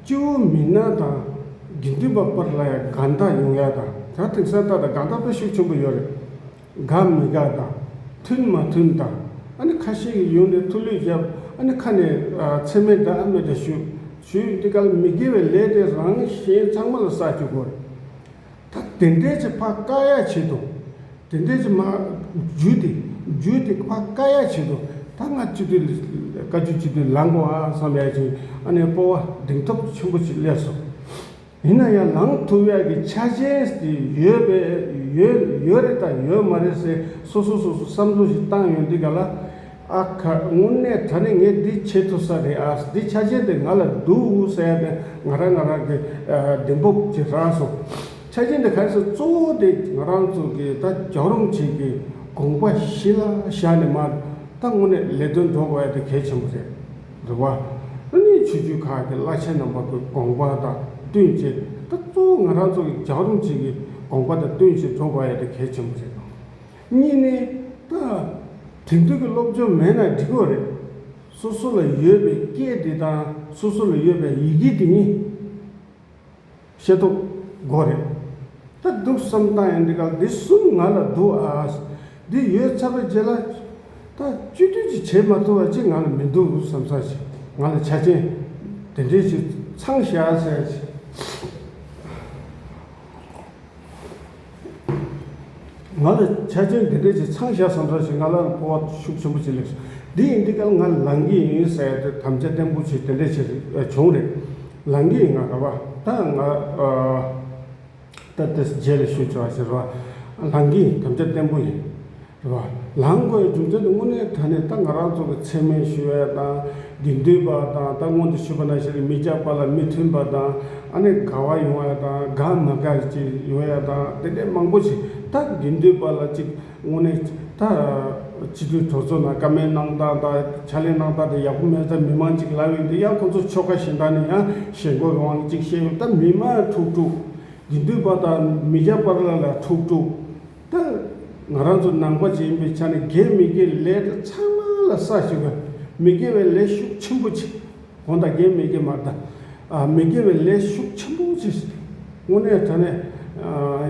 སྤྱི་བོ་མི་སྣང་དང། དགེ་འདུན་པ་པར་ལ་ཡང་དགའ་མཐའ་ཡོང་ཡ་དང་བྱང་ཐིག་གསལ་བཏགས་དང་དགའ་མཐའ་ཕལ་ཤུགས་ཆེན་པོ་ཡོད་རེད། དགའ་མི་དགའ་དང། མཐུན་མ་མཐུན་དང། ཨ་ནི་ཁ་ཤས་ཀྱིས་ཡོང་ནས་ཐུགས་ལུས་རྒྱབ་ཨ་ནི་ཁ་ནས་མཚན་མེད་འདྲ་ཨ་མེད་འདྲ་ཞུ། ཞུས་འདི་ག་ལ་མི་དགེ་བའི་ལས་དེ་རང་གཞན་ཚང་མ་ལ་བསགས་བཅུག་གོ། ཐ་དད་འདས་ཀྱི་བྷ་ཀ་ཡ་བྱེད་དོ། དད་འདས་ཀྱི་མ། རྒྱུད་དེ། རྒྱུད་དེ་བྷ་ཀ་ཡ་བྱེད་དོ། ད་སྔ་སྤྱི་དོན་ལས། བཀའ་རྒྱུད་སྤྱི་དོན་ལངས་དགོས་ཨང་བསམ་ཡ་ཅིང་ཨ་ནེ་སྤོ་བ་གདེང་ཐོབ་ཆེན་པོ་ཅིག་སླེབས་སོ། ཡིན་ན་ཡང་ལངས་ཐུབ་ཡ་གི་ཆ་རྐྱེན་དེ་ཡོད་པས་ཡོད་ཡོད་རེད་དང་ཡོད་མ་རེད་ཟེར་སོ་སོ་སོ་སོ་བསམ་བློ་ཞིག་བཏང་ཡོད་འདི་ག་ལ། ཨ་ཁ་དངོས་གནས་ད་ནི་ངས་འདི་བྱེད་ཐུབ་ས་རེད་ཨ་འདི་ཆ་ཅན་དེ་ང་ལ་འདུག་ཟེར་ནས་ང་རང་ང་རང་གི་གདེང་སྤོབས་ཀྱིས་རག་སོང། ཆ་ཅན་དེ་གལ་སྲིད་གཙོ་བོ་དེ་ང་རང་ཚོ་གི་ད་རྒྱག་རོམ་བྱེད་ཀྱི་དགོངས་པ་གཞི་ལ་བཞག་ནས་མ་ད་དངོས་གནས་ལས་དོན་འགྲོ་བ་དེ་གལ་ཆེན་པོ་རེད། རེད་བ། ཨ་ནི་ཆོས་བརྒྱུད་ཁག་གི་བླ་ཆེན་རྣམ་པ་ཀུན་དགོངས་པ་དང་བསྟུན་ཅེས་ད་གཙོ་བོ་ང་རང་ཚོ་གི་རྒྱག་རོམ་བྱེད་ཀྱི་དགོངས་པ་དང་བསྟུན་ཞིང་འགྲོ་བ་དེ་གལ་ཆེན་པོ་རེད། གཉིས་ནི། དེང་དུས་ཀྱི་སློབ་སྦྱོང་མེད་ན་འགྲིག་གོ་རེད། སོ་སོ་ལ་ཡོད་པའི་སྐད་དེ་དང་སོ་སོ་ལ་ཡོད་པའི་ཡི་གེ་དེ་གཉིས་ཤེས་རྟོགས་དགོས་རེད། ད་སྡུག་བསམ་སྟངས་ཡང་འདི་ག་འདི་གསུམ་ང་ལ་འདུག་ཨ། འདི་ཡོད་ཚར་བའི་རྗེས་ལ། ད་བཅོས་སྒྲིག་ཅིག་བྱེད་མ་ཐུབ་བ་ཅིག་ང་ལ་མི་འདུག་བསམ་ས་ཞིག་ང་ལ་ཆ་རྐྱེན་དེ་འདྲའི་ཞིག་ཚང་བཞག་ས་ཞིག། ང་ལ་ཆ་རྐྱེན་འདི་འདྲའི་ཆེ་ཚང་བཞག་བསམ་བསམ་བྱས་ང་ལ་སྤོ་བ་ཤུགས་ཆེན་པོ་བྱེད་ལེགས་སོ། འདི་ཡིན་འདི་སྐད་ང་ལངས་ཀྱི་ཡིན་ཟེར་ཡ་དེ་དམ་བཅའ་བརྟན་པོ་བྱས་དེ་འདྲའི་ཆེ་བྱུང་རེད། ལངས་ཀྱི་ཡིན་ང་ག་པ་ད་ང་ད་དེ་རྗེས་ལ་ཞུས་བྱས་བ་ཟེར་བ་ལངས་ཀྱི་ཡིན་དམ་བཅའ་བརྟན་པོ་ཡིན། བ། ལམ་མགོའི་རྒྱུ་མཚན་དངོས་གནས་ད་ནི་ད་ང་རང་ཚོ་གི་ཚད་མའི་ཞུ་བའི་དང་དགེ་འདུན་པ་དང་ད་སྔོན་དུ་ཞུས་པ་ན་ཞིག་ལ་མི་རྒྱག་པ་ལ་མི་མཐུན་པ་དང་ཨ་ནི་དགའ་བ་ཡོང་བ་དང་དགའ་མ་དགའ་ཅིག་ཡོང་ཡ་དང་དེ་འདྲས་མང་པོ་ཞིག་ད་དགེ་འདུན་པ་ལ་ཅིག་དངོས་གནས་ད་སྤྱི་འཐུས་གྲོ་ཚོ་ན་ཀ་མའི་གནང་སྟངས་དང་ཕྱག་ལེན་གནང་སྟངས་དེ་ཡག་པོ་མེད་ས་མི་མང་ཅིག་ལབ་ཡོད་འདུག་ཡང་ཁོང་ཚོ་ཆོལ་ཁ་གཞན་དག་ནས་ཡང་ཞེན་ཁོག་གི་དབང་ཅིག་བཤད་ཡོད་ད་མི་མང་ཁྲུག་ཁྲུག་དགེ་འདུན་པ་དང་མི་རྒྱག་པ་ལ་ལ་ཁྲུག་ཁྲུག་ལྟར། ང་རང་ཚོ་ནང་པ་ཅན་པའི་ཆ་ནས་དགེ་མི་དགེ་ལས་དེ་ཚང་མ་ལ་ས་ཞིག་དགོས། མི་དགེ་བའི་ལས་ཤུགས་ཆེན་པོ་ཅིག་གོང་དང་དགེ་མི་དགེ་མ་གདའ། མི་དགེ་བའི་ལས་ཤུགས་ཆེན་པོ་ཅིག་དངོས་གནས་ད་ནས།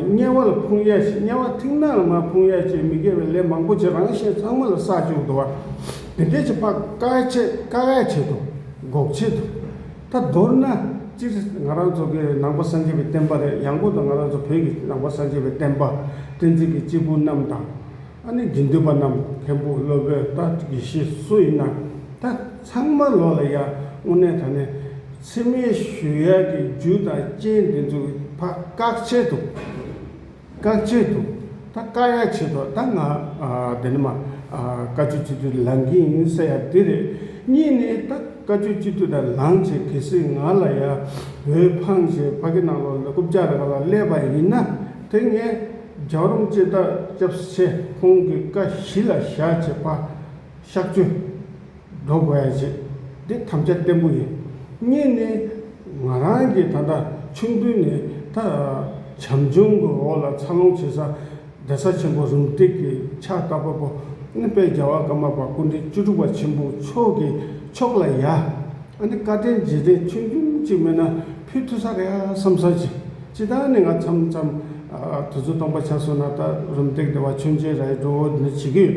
དམྱལ་བ་ལ་ཕུང་ཡས་ཆེ་དམྱལ་བ་མཐིང་ནག་ལ་མ་ཕུང་ཡས་ཆེ་མི་དགེ་བའི་ལས་མང་པོ་ཅིག་རང་གཞན་ཚང་མ་ལ་ས་བཅུག་འདུག་བ། དེ་འདྲའི་ཆེ་དཔག་དཀའ་བས་ཆེ་དཀའ་བས་ཆེ་དོ། འགོག་བྱེད་དོ། ད་མདོར་ན། སྤྱིར་ང་རང་ཚོ་གི་ནང་པ་སངས་རྒྱས་པའི་བསྟན་པ་རེད་ཡང་སྒོས་དང་ང་རང་ཚོ་བོད་ཀྱི་ནང་པ་སངས་རྒྱས་པའི་བསྟན་པ། བསྟན་འཛིན་གྱི་སྐྱེས་བུ་རྣམས་དང། ཨ་ནི་དགེ་འདུན་པ་རྣམས་མཁན་པོ་བློ་དཔལ་རྟ་དགེ་བཤེས་སུ་ཡིན་ན། ད་ཚང་མ་ལོག་ལ་ཡ་དངོས་གནས་ད་ནི། ཚེ་སྨད་ཞུ་ཡག་གི་རྒྱུ་དང་རྐྱེན་འདི་ཚོ་གི་ཕ་བཀག་ཆེད་དུ། བཀའ་བཅད་དུ། ད་བཀའ་ཡག་བྱེད་དོ་ད་ང་དེ་ནི་མ། བཀའ་བཅུ་གཅིག་ཏུ་ལང་གིན་ཡིན་ས་ཡ་དེ་རེད། གཉིས་ནི་ད་བཀའ་བཅུ་གཅིག་ཏུ་དང་ལང་བྱེད་གལ་སྲིད་ང་ལ་ཡ། བོད་འཕང་ཞེས་ཕ་གི་ནང་ལོག་ལ་རྐུབ་ལྕག་རེ་བ་ལ་སླེབས་པ་ཡིན་ན། དེ་ངས་རྒྱག་རུང་ཅེས་ད་སྐྱབས་སུ་ཆེ་ཁོང་གི་བཀའ་བཞི་ལ་བཞག་བྱེད་ཕ། བཤགས་བཅོས། སྒྲོ་བསྐུར་ཡང་བྱེད། འདི་ཐམས་ཅད་བརྟན་པོ་ཡིན། གཉིས་ནི། ང་རང་གིས་ད་ལྟ་ཆུང་དུས་ནས་ད་བྱམས་ཆུང་གི་འོག་ལ་འཚར་ལོངས་བྱེད་ས། རྡ་ས་ཆེན་པོ་རུམ་སྟེགས་ཀྱི་ཕྱག་རྟ་དཔའ་བོ་ཨ་ནི་དཔལ་རྒྱལ་བ་ཀརྨ་པ་སྐུ་འདྲེན་བཅུ་དྲུག་པ་ཆེན་པོ་མཆོག་གི་ཕྱོགས་ལ་ཡ། ཨ་ནི་བཀའ་དྲིན་རྗེས་དྲན་ཆུང་ཆུང་གཅིག་མེད་ན་ཕུལ་ཐུབ་ས་རེད་ཨ་བསམ་བསམ་བྱས། ཅི་ལྟར་ནས་ང་མཚམས་མཚམས་དུས་ཚོད་སྟོང་པ་ཆགས་སོང་ན་ད་རུམ་སྟེགས་འདི་བ་ཆོས་མཇལ་རྭའི་སྒྲོ་བོ་འདི་འདྲ་བྱེད་ཀྱི་ཡོད།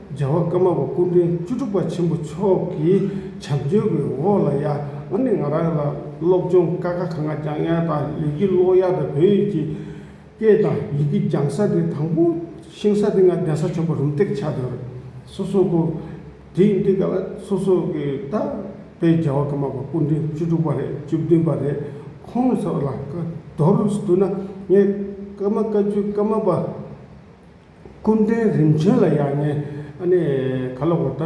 རྒྱལ་བ་ཀརྨ་པ་སྐུ་མགྲོན་བཅུ་དྲུག་པ་ཆེན་པོ་མཆོག་གི་བྱམས་བརྩོན་གྱི་འོག་ལ་ཡར་ངོ་ནས་ང་རང་ལ་སློབ་སྦྱོང་དཀའ་ཁག་གང་ལ་ཀྱང་ཡང་དང་ལེགས་ཀྱིས་སློབ་ཡག་དང་བོད་ཡིག་གི་སྐད་དང་ཡི་གེ་སྦྱང་ས་དེ་དང་པོ་ཤེས་ས་དེ་ང་གདན་ས་ཆོས་པ་རུམ་སྟེགས་ཆགས་དོན་རེད། སོ་སོ་སྐོར་དེ་ཡིན་དུས་ག་ལ་སོ་སོ་གི་ད་ལྟའི་རྒྱལ་བ་ཀརྨ་པ་སྐུ་མགྲོན་བཅུ་དྲུག་པ་རེད་བཅུ་བདུན་པ་རེད་ཁོང་ཚོ་ལ་བཀའ་མདོ་རུ་བསྡུ་ན་ངས་ཀརྨ་བཀའ་བརྒྱུད་ཀརྨ་པ། སྐུ་མགྲོན་རིམ་བྱོན་ལ་ཡང་ངས་ནི་ག་ལ་བོར་ད།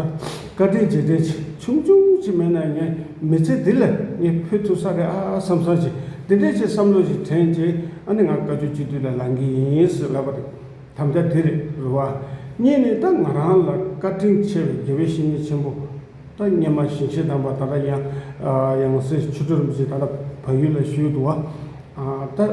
བཀའ་དྲིན་རྗེས་དྲན་ཆུང་ཆུང་ཅིག་མེད་ན་ངའི་མི་ཚེ་འདི་ལ་ངས་ཕུལ་ཐུབ་ས་རེད་ཨ་བསམ་བསམ་བཞིན་འདི་འདྲའི་ཆེད་བསམ་བློ་ཞིག་དྲན་རྗེས་ཨ་ནི་ང་བཀའ་ཆོས་སྤྱི་འཐུས་ལ་ལང་གི་ཡིན་ཟེར་ལབ་པ་རེད། དམ་བཅའ་དེ་རེད་རུ་བ། གཉིས་ནི་ད་ང་རང་ལ་བཀའ་དྲིན་ཆེ་བའི་དགེ་བའི་བཤེས་གཉེན་ཆེན་པོ། ད་སྙེ་མ་ཞིང་ཆེན་དམ་པ་ད་ལྟ་ཡང་ཡང་སྲིད་ཆུ་སྒྲོ་རིན་པོ་ཆེ་ད་ལྟ་བལ་ཡུལ་ལ་བཞུགས་འདུག་བ། ད།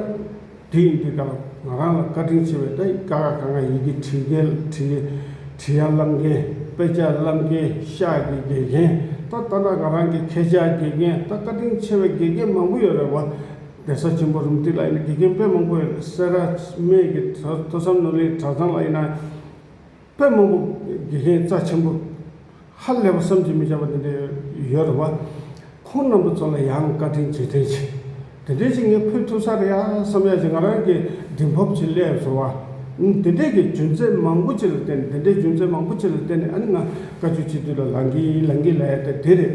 དེ་ཡི་དུས་དང་ང་རང་ལ་བཀའ་དྲིན་ཆེ་བའི་ཏཱའི་ཀ་ཁ་ག་ང་ཡི་གེ་བྲིས་རྒན་བྲིས་ཡ་བསླབ་མཁན་དཔེ་ཆ་བསླབ་མཁན་ཤག་གི་དགེ་རྒན་ད་ལྟ་ན་ག་རང་གི་ཁྱེད་ཅག་དགེ་རྒན་ད་བཀའ་དྲིན་ཆེ་བའི་དགེ་རྒན་མང་པོ་ཡོད་རེད་བ། གདན་ས་ཆེན་པོ་རུང་ཏི་ལ་ཡིན་ན་དགེ་རྒན་དཔེ་མང་པོ་ཡོད་རེད་སེ་ར་སྨད་ཀྱི་ཐོས་བསམ་ནོར་གླིང་གྲྭ་ཚང་ལ་ཡིན་ན། དཔེ་སྨོན་པོ་དགེ་རྒན་རྩ་ཆེན་པོ། ཧ་ལས་པ་བསམ་གྱིས་མི་ཁྱབ་པ་དེ་འདྲ་ཡོད་རེད་བ། ཁོང་རྣམ་པ་ཚོ་ལ་ཡང་བཀའ་དྲིན་རྗེས་དྲན་ཆེ། དེ་འདྲའི་ཞིག་ངས་ཕུལ་ཐུབ་ས་རེད་ཡ་བསམ་ཡ་ཞེས་ང་རང་གིས་དྲིན་ཕབ་བྱེད་སླད་སོ། དེ་འདྲའི་གི་རྒྱུ་མཚན་མང་པོ་ཅིག་ལ་བརྟེན་ནས་དེ་འདྲའི་རྒྱུ་མཚན་མང་པོ་ཅིག་ལ་བརྟེན་ནས་ཨ་ནི་ང་བཀའ་ཆོས་སྤྱི་འཐུས་ལ་ལངས་གིན་ལངས་གིན་ལ་ཡ་ད་དེ་རེད།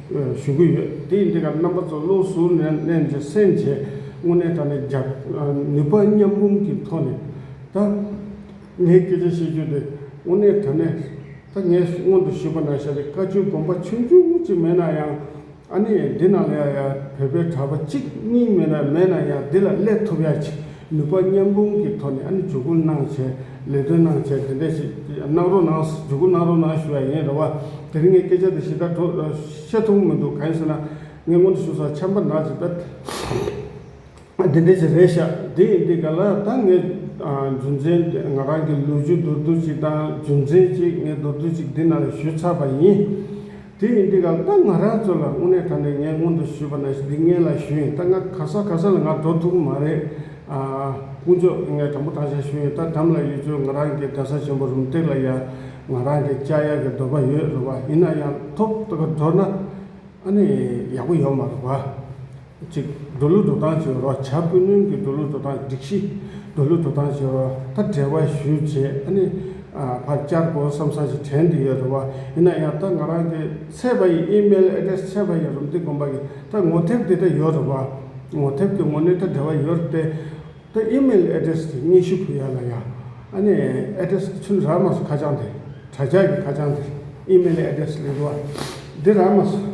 ཞུ་གི་ཡོད། དེ་ཡིན་དེ་གར་རྣམ་པ་ཚོ་བློ་གཟུར་ནས་གནས་འདི་གསན་རྗེས་དངོས་གནས་ད་ནི་རྒྱག་ནུས་པ་མཉམ་རུམ་གྱི་ཐོག་ནས་ད། ངས་སྐད་ཆ་བཤད་རྒྱུ་དེ་དངོས་གནས་ད་ནས་ད་ངས་སྔོན་དུ་ཞུས་པ་ན་ཤ་རི་དཀར་ཆུའི་དགོན་པ་ཆུང་ཆུང་གཅིག་མེད་ན་ཡང་ཨ་ནི་འདི་ནང་ལ་ཡ་ཡ་བོད་པའི་གྲྭ་པ་གཅིག་གཉིས་མེད་ན་ཡང་འདི་ལ་སླེབས་ཐུབ་ཡ་གཅིག་ནུས་པ་མཉམ་སྤུངས་ཀྱི་ཐོག་ནས་ཨ་ནི་འཇུག་སྐུལ་གནང་བྱས་ལས་དོན་གནང་བྱས་དེ་འད་ཞིག་གནང་རོགས་གནང་འཇུག་སྐུལ་གནང་རོགས་གནང་ཞུ་ཡ་ཡིན་རེད་བ། དེ་རིང་ངས་སྐད་ཆ་འདི་ཞིབ་ཕྲ་ཐོག་བཤད་ཐུབ་མི་འདུག་གང་ཡིན་ཟེར་ན། ངས་སྔོན་དུ་ཞུ་ས་ཆམ་པ་ནག་ཅིག་ད་དེ་འད་ཞིག་རེད་ཤག་དེ་ཡིན་དུས་ག་ལ་ད་ངས་རྒྱུ་མཚན་ང་རང་གི་ལུས་རྒྱུ་མདོར་བསྡུས་ཅིག་དང་རྒྱུ་མཚན་གཅིག་ངས་མདོར་བསྡུས་ཅིག་འདི་ན་ཞུས་ཚར་བ་ཡིན། དེ་ཡིན་དུས་ཀྱང་ད་ང་རང་ཚོ་ལ་དངོས་གནས་ད་ནས་ངས་སྔོན་དུ་ཞུས་པ་ན་སྡིག་ངན་ལ་ཞུས་ཡིན་ད་ང་ག་ས་ག་ས་ལ་ང་འགྲོ་ཐུབ་མ་རེད་ཨ། དཀོན་མཆོག་ངས་དྲང་པོ་དྲང་བཞག་ཞུས་ཡིན་ད་དམ་ལ་ཡོད་ཚོད་ང་རང་གི་རྡ་ས་ཆེན་པོ་རུམ་སྟེགས་ལ་ཡ་ང་རང་གི་ལྕགས་ཡ་གི་འདོད་པ་ཡོད་རེད་བ་ཡིན་ན་ཡང་ཐོབ་ཐོབ་འགྲོ་ན་ཨ་ནི་ཡག་པོ་ཡོད་མ་རེད་བ། གཅིག། འགྲོ་ལུགས་འགྲོ་སྟངས་བྱེད་རོགས་བྱ། ཀུན་སྣོན་གྱི་འགྲོ་ལུགས་འགྲོ་སྟངས་སྒྲིག་གཞི། འགྲོ་ལུགས་འགྲོ་སྟངས་བྱེད་རོགས་ད་བྲལ་བ་ཞུས་བྱས་ཨ་ནི། ཕར་བསྐྱར་དགོས་བསམ་ས་ཞིག་དྲན་དུ་ཡོད་རེད་བ། ཡིན་ན་ཡང་ད་ང་རང་གི་ཚད་པ་ཡི་ཨིམེལ་ཨེ་ཀྲེས་ཚད་པ་ཡི་རུམ་ཏི་དགོན་པ་གི་ད་ངོ་དེབ་དེ་འདྲ་ཡོད་རེད་བ། ངོ་དེབ་ཀྱི་ངོ་ནི་ད་བྲལ་བ་ཡོད་རེད་དེ། ད་ཨིམེལ་ཨེ་ཀྲེས་དེ་སྙན་ཞུ་ཕུལ་ཡག་ལ་ཡ། ཨ་ནི། ཨེ་ཀྲེས་དེ་ཚུན་རག་མ་སོ་ཁ་བྱང་དེ། དྲ་ཇག་གི་ཁ་བྱང་དེ་ཨིམེལ་ཨེ་ཀྲེས་ལེགས་རེད་བ། འདི་རག་མ་སོ།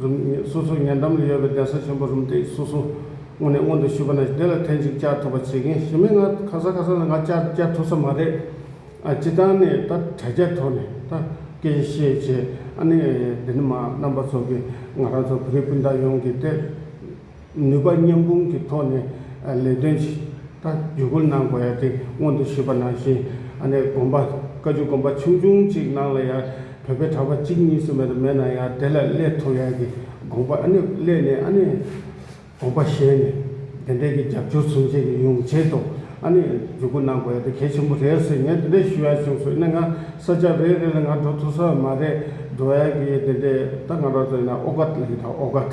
རུམ། སོ་སོའི་ཉེ་འགྲམ་ལ་ཡོད་པའི་གདན་ས་ཆེན་པོ་རུམ་སྟེགས་སོ་སོ་སྔོན་ནས་སྔོན་དུ་བཞུད་པ་ན་དེ་ལ་ཐེངས་གཅིག་བཅར་ཐུབ་པ་བྱེད་མཁན་ཞི་མི་ང་ཁ་སང་ཁ་སང་ལ་ང་བཅར་བཅར་ཐུབ་ས་མ་རེད། སྤྱི་བཏང་ནས་ད་དྲ་རྒྱ་ཐོག་ནས་ད་སྐད་བཤད་བྱས་ཨ་ནི་འདི་ནི་མ་རྣམ་པ་ཚོ་གི་ང་རང་ཚོ་བོད་རིགས་སྤུན་ཟླ་ཡོངས་ཀྱི་ལྟས་ནུས་པ་མཉམ་སྤུངས་ཀྱི་ཐོག་ནས་ལས་དོན་ཆེ་ཕྲ་བརྒྱུད་སྐུར་གནང་དགོས་ཡ་དེ་སྔོན་དུ་ཞུས་པ་ནང་བཞིན་ཨ་ནེ་དགོན་པ་བཀའ་བརྒྱུད་དགོན་པ་ཆུང་ཆུང་གཅིག་གནང་ལ་ཡ་བོད་པའི་གྲྭ་པ་གཅིག་གཉིས་སུ་མེད་དུ་མེད་ན་ཡ་དེ་ལ་སླེ་ཐུབ་ཡ་གི་དགོངས་པ་ཨ་ནེ་སླེ་ནས་ཨ་ནེ་དགོན་པ་གཞན་ནས་དེ་འད་གི་རྒྱབ་སྐྱོར་ཚུན་ཆད་ཀྱི་ཡུང་ཆེད་དུ་ཨ་ནེ་བརྒྱུད་སྐུར་གནང་དགོས་ཡ་དེ་གལ་ཆེན་པོ་རེད་ཟེར་ངས་དེ་འད་ཞུ་ཡ་བྱུང་ཟོས་ན་ང་ས་ཆ་རེ་རེ་ལ་ང་འགྲོ་ཐུབ་ས་མ་རེད་འགྲོ་ཡ་གི་དེ་འད་ད་ང་རོ་ཟོས་ན་ཨོ་ག་ལ་ཡི་ད་ཨོ་ག།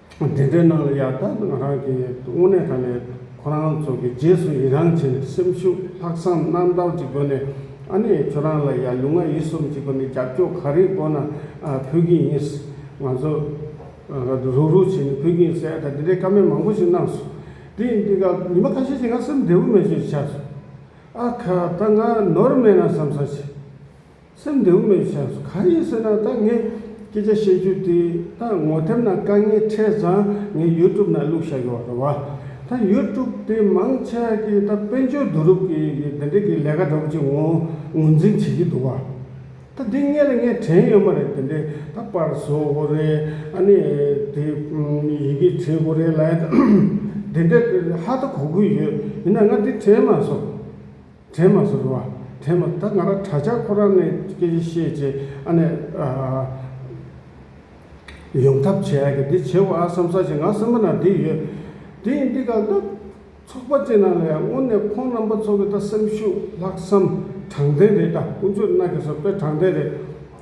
དེ་འདྲའི་ནང་ལ་ཡར་ལྟ་ང་རང་གིས་དངོས་གནས་ད་ནས་ཁོ་རང་ཚོ་གི་རྗེས་སུ་ཡི་རང་བྱས་ནས་སེམས་ཤུགས་ལྷག་བསམ་རྣམ་དག་ཅིག་བསྒོས་ནས་ཨ་ནེ་ཁྱོད་རང་ལ་ཡར་ལུས་ངག་ཡིད་གསུམ་གཅིག་པ་ནས་རྒྱབ་སྐྱོར་ག་རེ་དགོས་ན་ཕུལ་གྱི་ཡིན། ང་ཚོ་རུག་རུག་བྱས་ནས་ཕུལ་གྱི་ཡིན་ཟེར་ཨ་ད་དེ་འདྲའི་བཀའ་མོལ་མང་པོ་ཞིག་གནང་སོང། དེ་ཡིན་དུས་ཀྱང་ཉི་མ་ཁ་ཤས་ཤིག་ང་སེམས་བདེ་བོ་མེད་ཤོས་ཤིག་ཆགས་སོང། ཨ་ཁ་ད་ང་ནོར་མེད་ན་བསམ་ས་ཞིག། སེམས་འདི་འུ་མའི་སེམས་སུ་ག་ཡིན་ཟེར་ན་ད་ངས་སྐད་ཆ་བཤད་རྒྱུ་དེ་ད་ངོ་དེབ་ནང་དཀའ་ངལ་འཕྲད་ཙང་ངས YouTube ནང་བླུགས་བཞག་གི་བ་རེད་བ། ད YouTube དེ་མང་ཆེ་བ་གིས་ད་དཔལ་འབྱོར་བསྡུ་རུབ་ཀྱི་འདི་འདྲ་གི་ལས་ཀ་འདྲ་བོ་ཅིག་ངོ་ངོས་འཛིན་བྱེད་ཀྱི་འདུག་བ། ད་འདི་གཉེར་ལ་ངས་དྲན་ཡོད་མ་རེད་དེ་འདྲས་ད་པར་བཟོ་དགོས་རེད་ཨ་ནི་དེ་ཡི་གེ་བྲིས་དགོས་རེད་ལ། དེ་འདྲས་ཧ་ད་གོ་དགོས་ཡོད་ཡིན་ན་ང་དེ་དྲན་མ་སོང། དྲན་མ་ཟུར་བ་དྲན་མ་ད་ང་རང་གྲྭ་ཆག་ཁོ་རང་ནས་སྐད་ཆ་བཤད་བྱས་ཨ་ནས་ཡོང་ཐབས་བྱས་ཨ་གི་འདི་བྱས་བ་ཨ་བསམ་བསམ་བྱས་ང་སེམས་པ་ན་འདི་ཡོད་འདི་ཡིན་འདི་གང་ད་ཚོགས་པ་ཅན་ན་ལ་ཡང་སྔོན་ནས་ཁོང་རྣམ་པ་ཚོ་གི་ད་སེམས་ཤུགས་ལྷག་བསམ་དྲང་བདེན་རེད་ད་ཀུན་སྤྱོད་སྣ་གས་སོ་པས་དྲང་བདེན་རེད།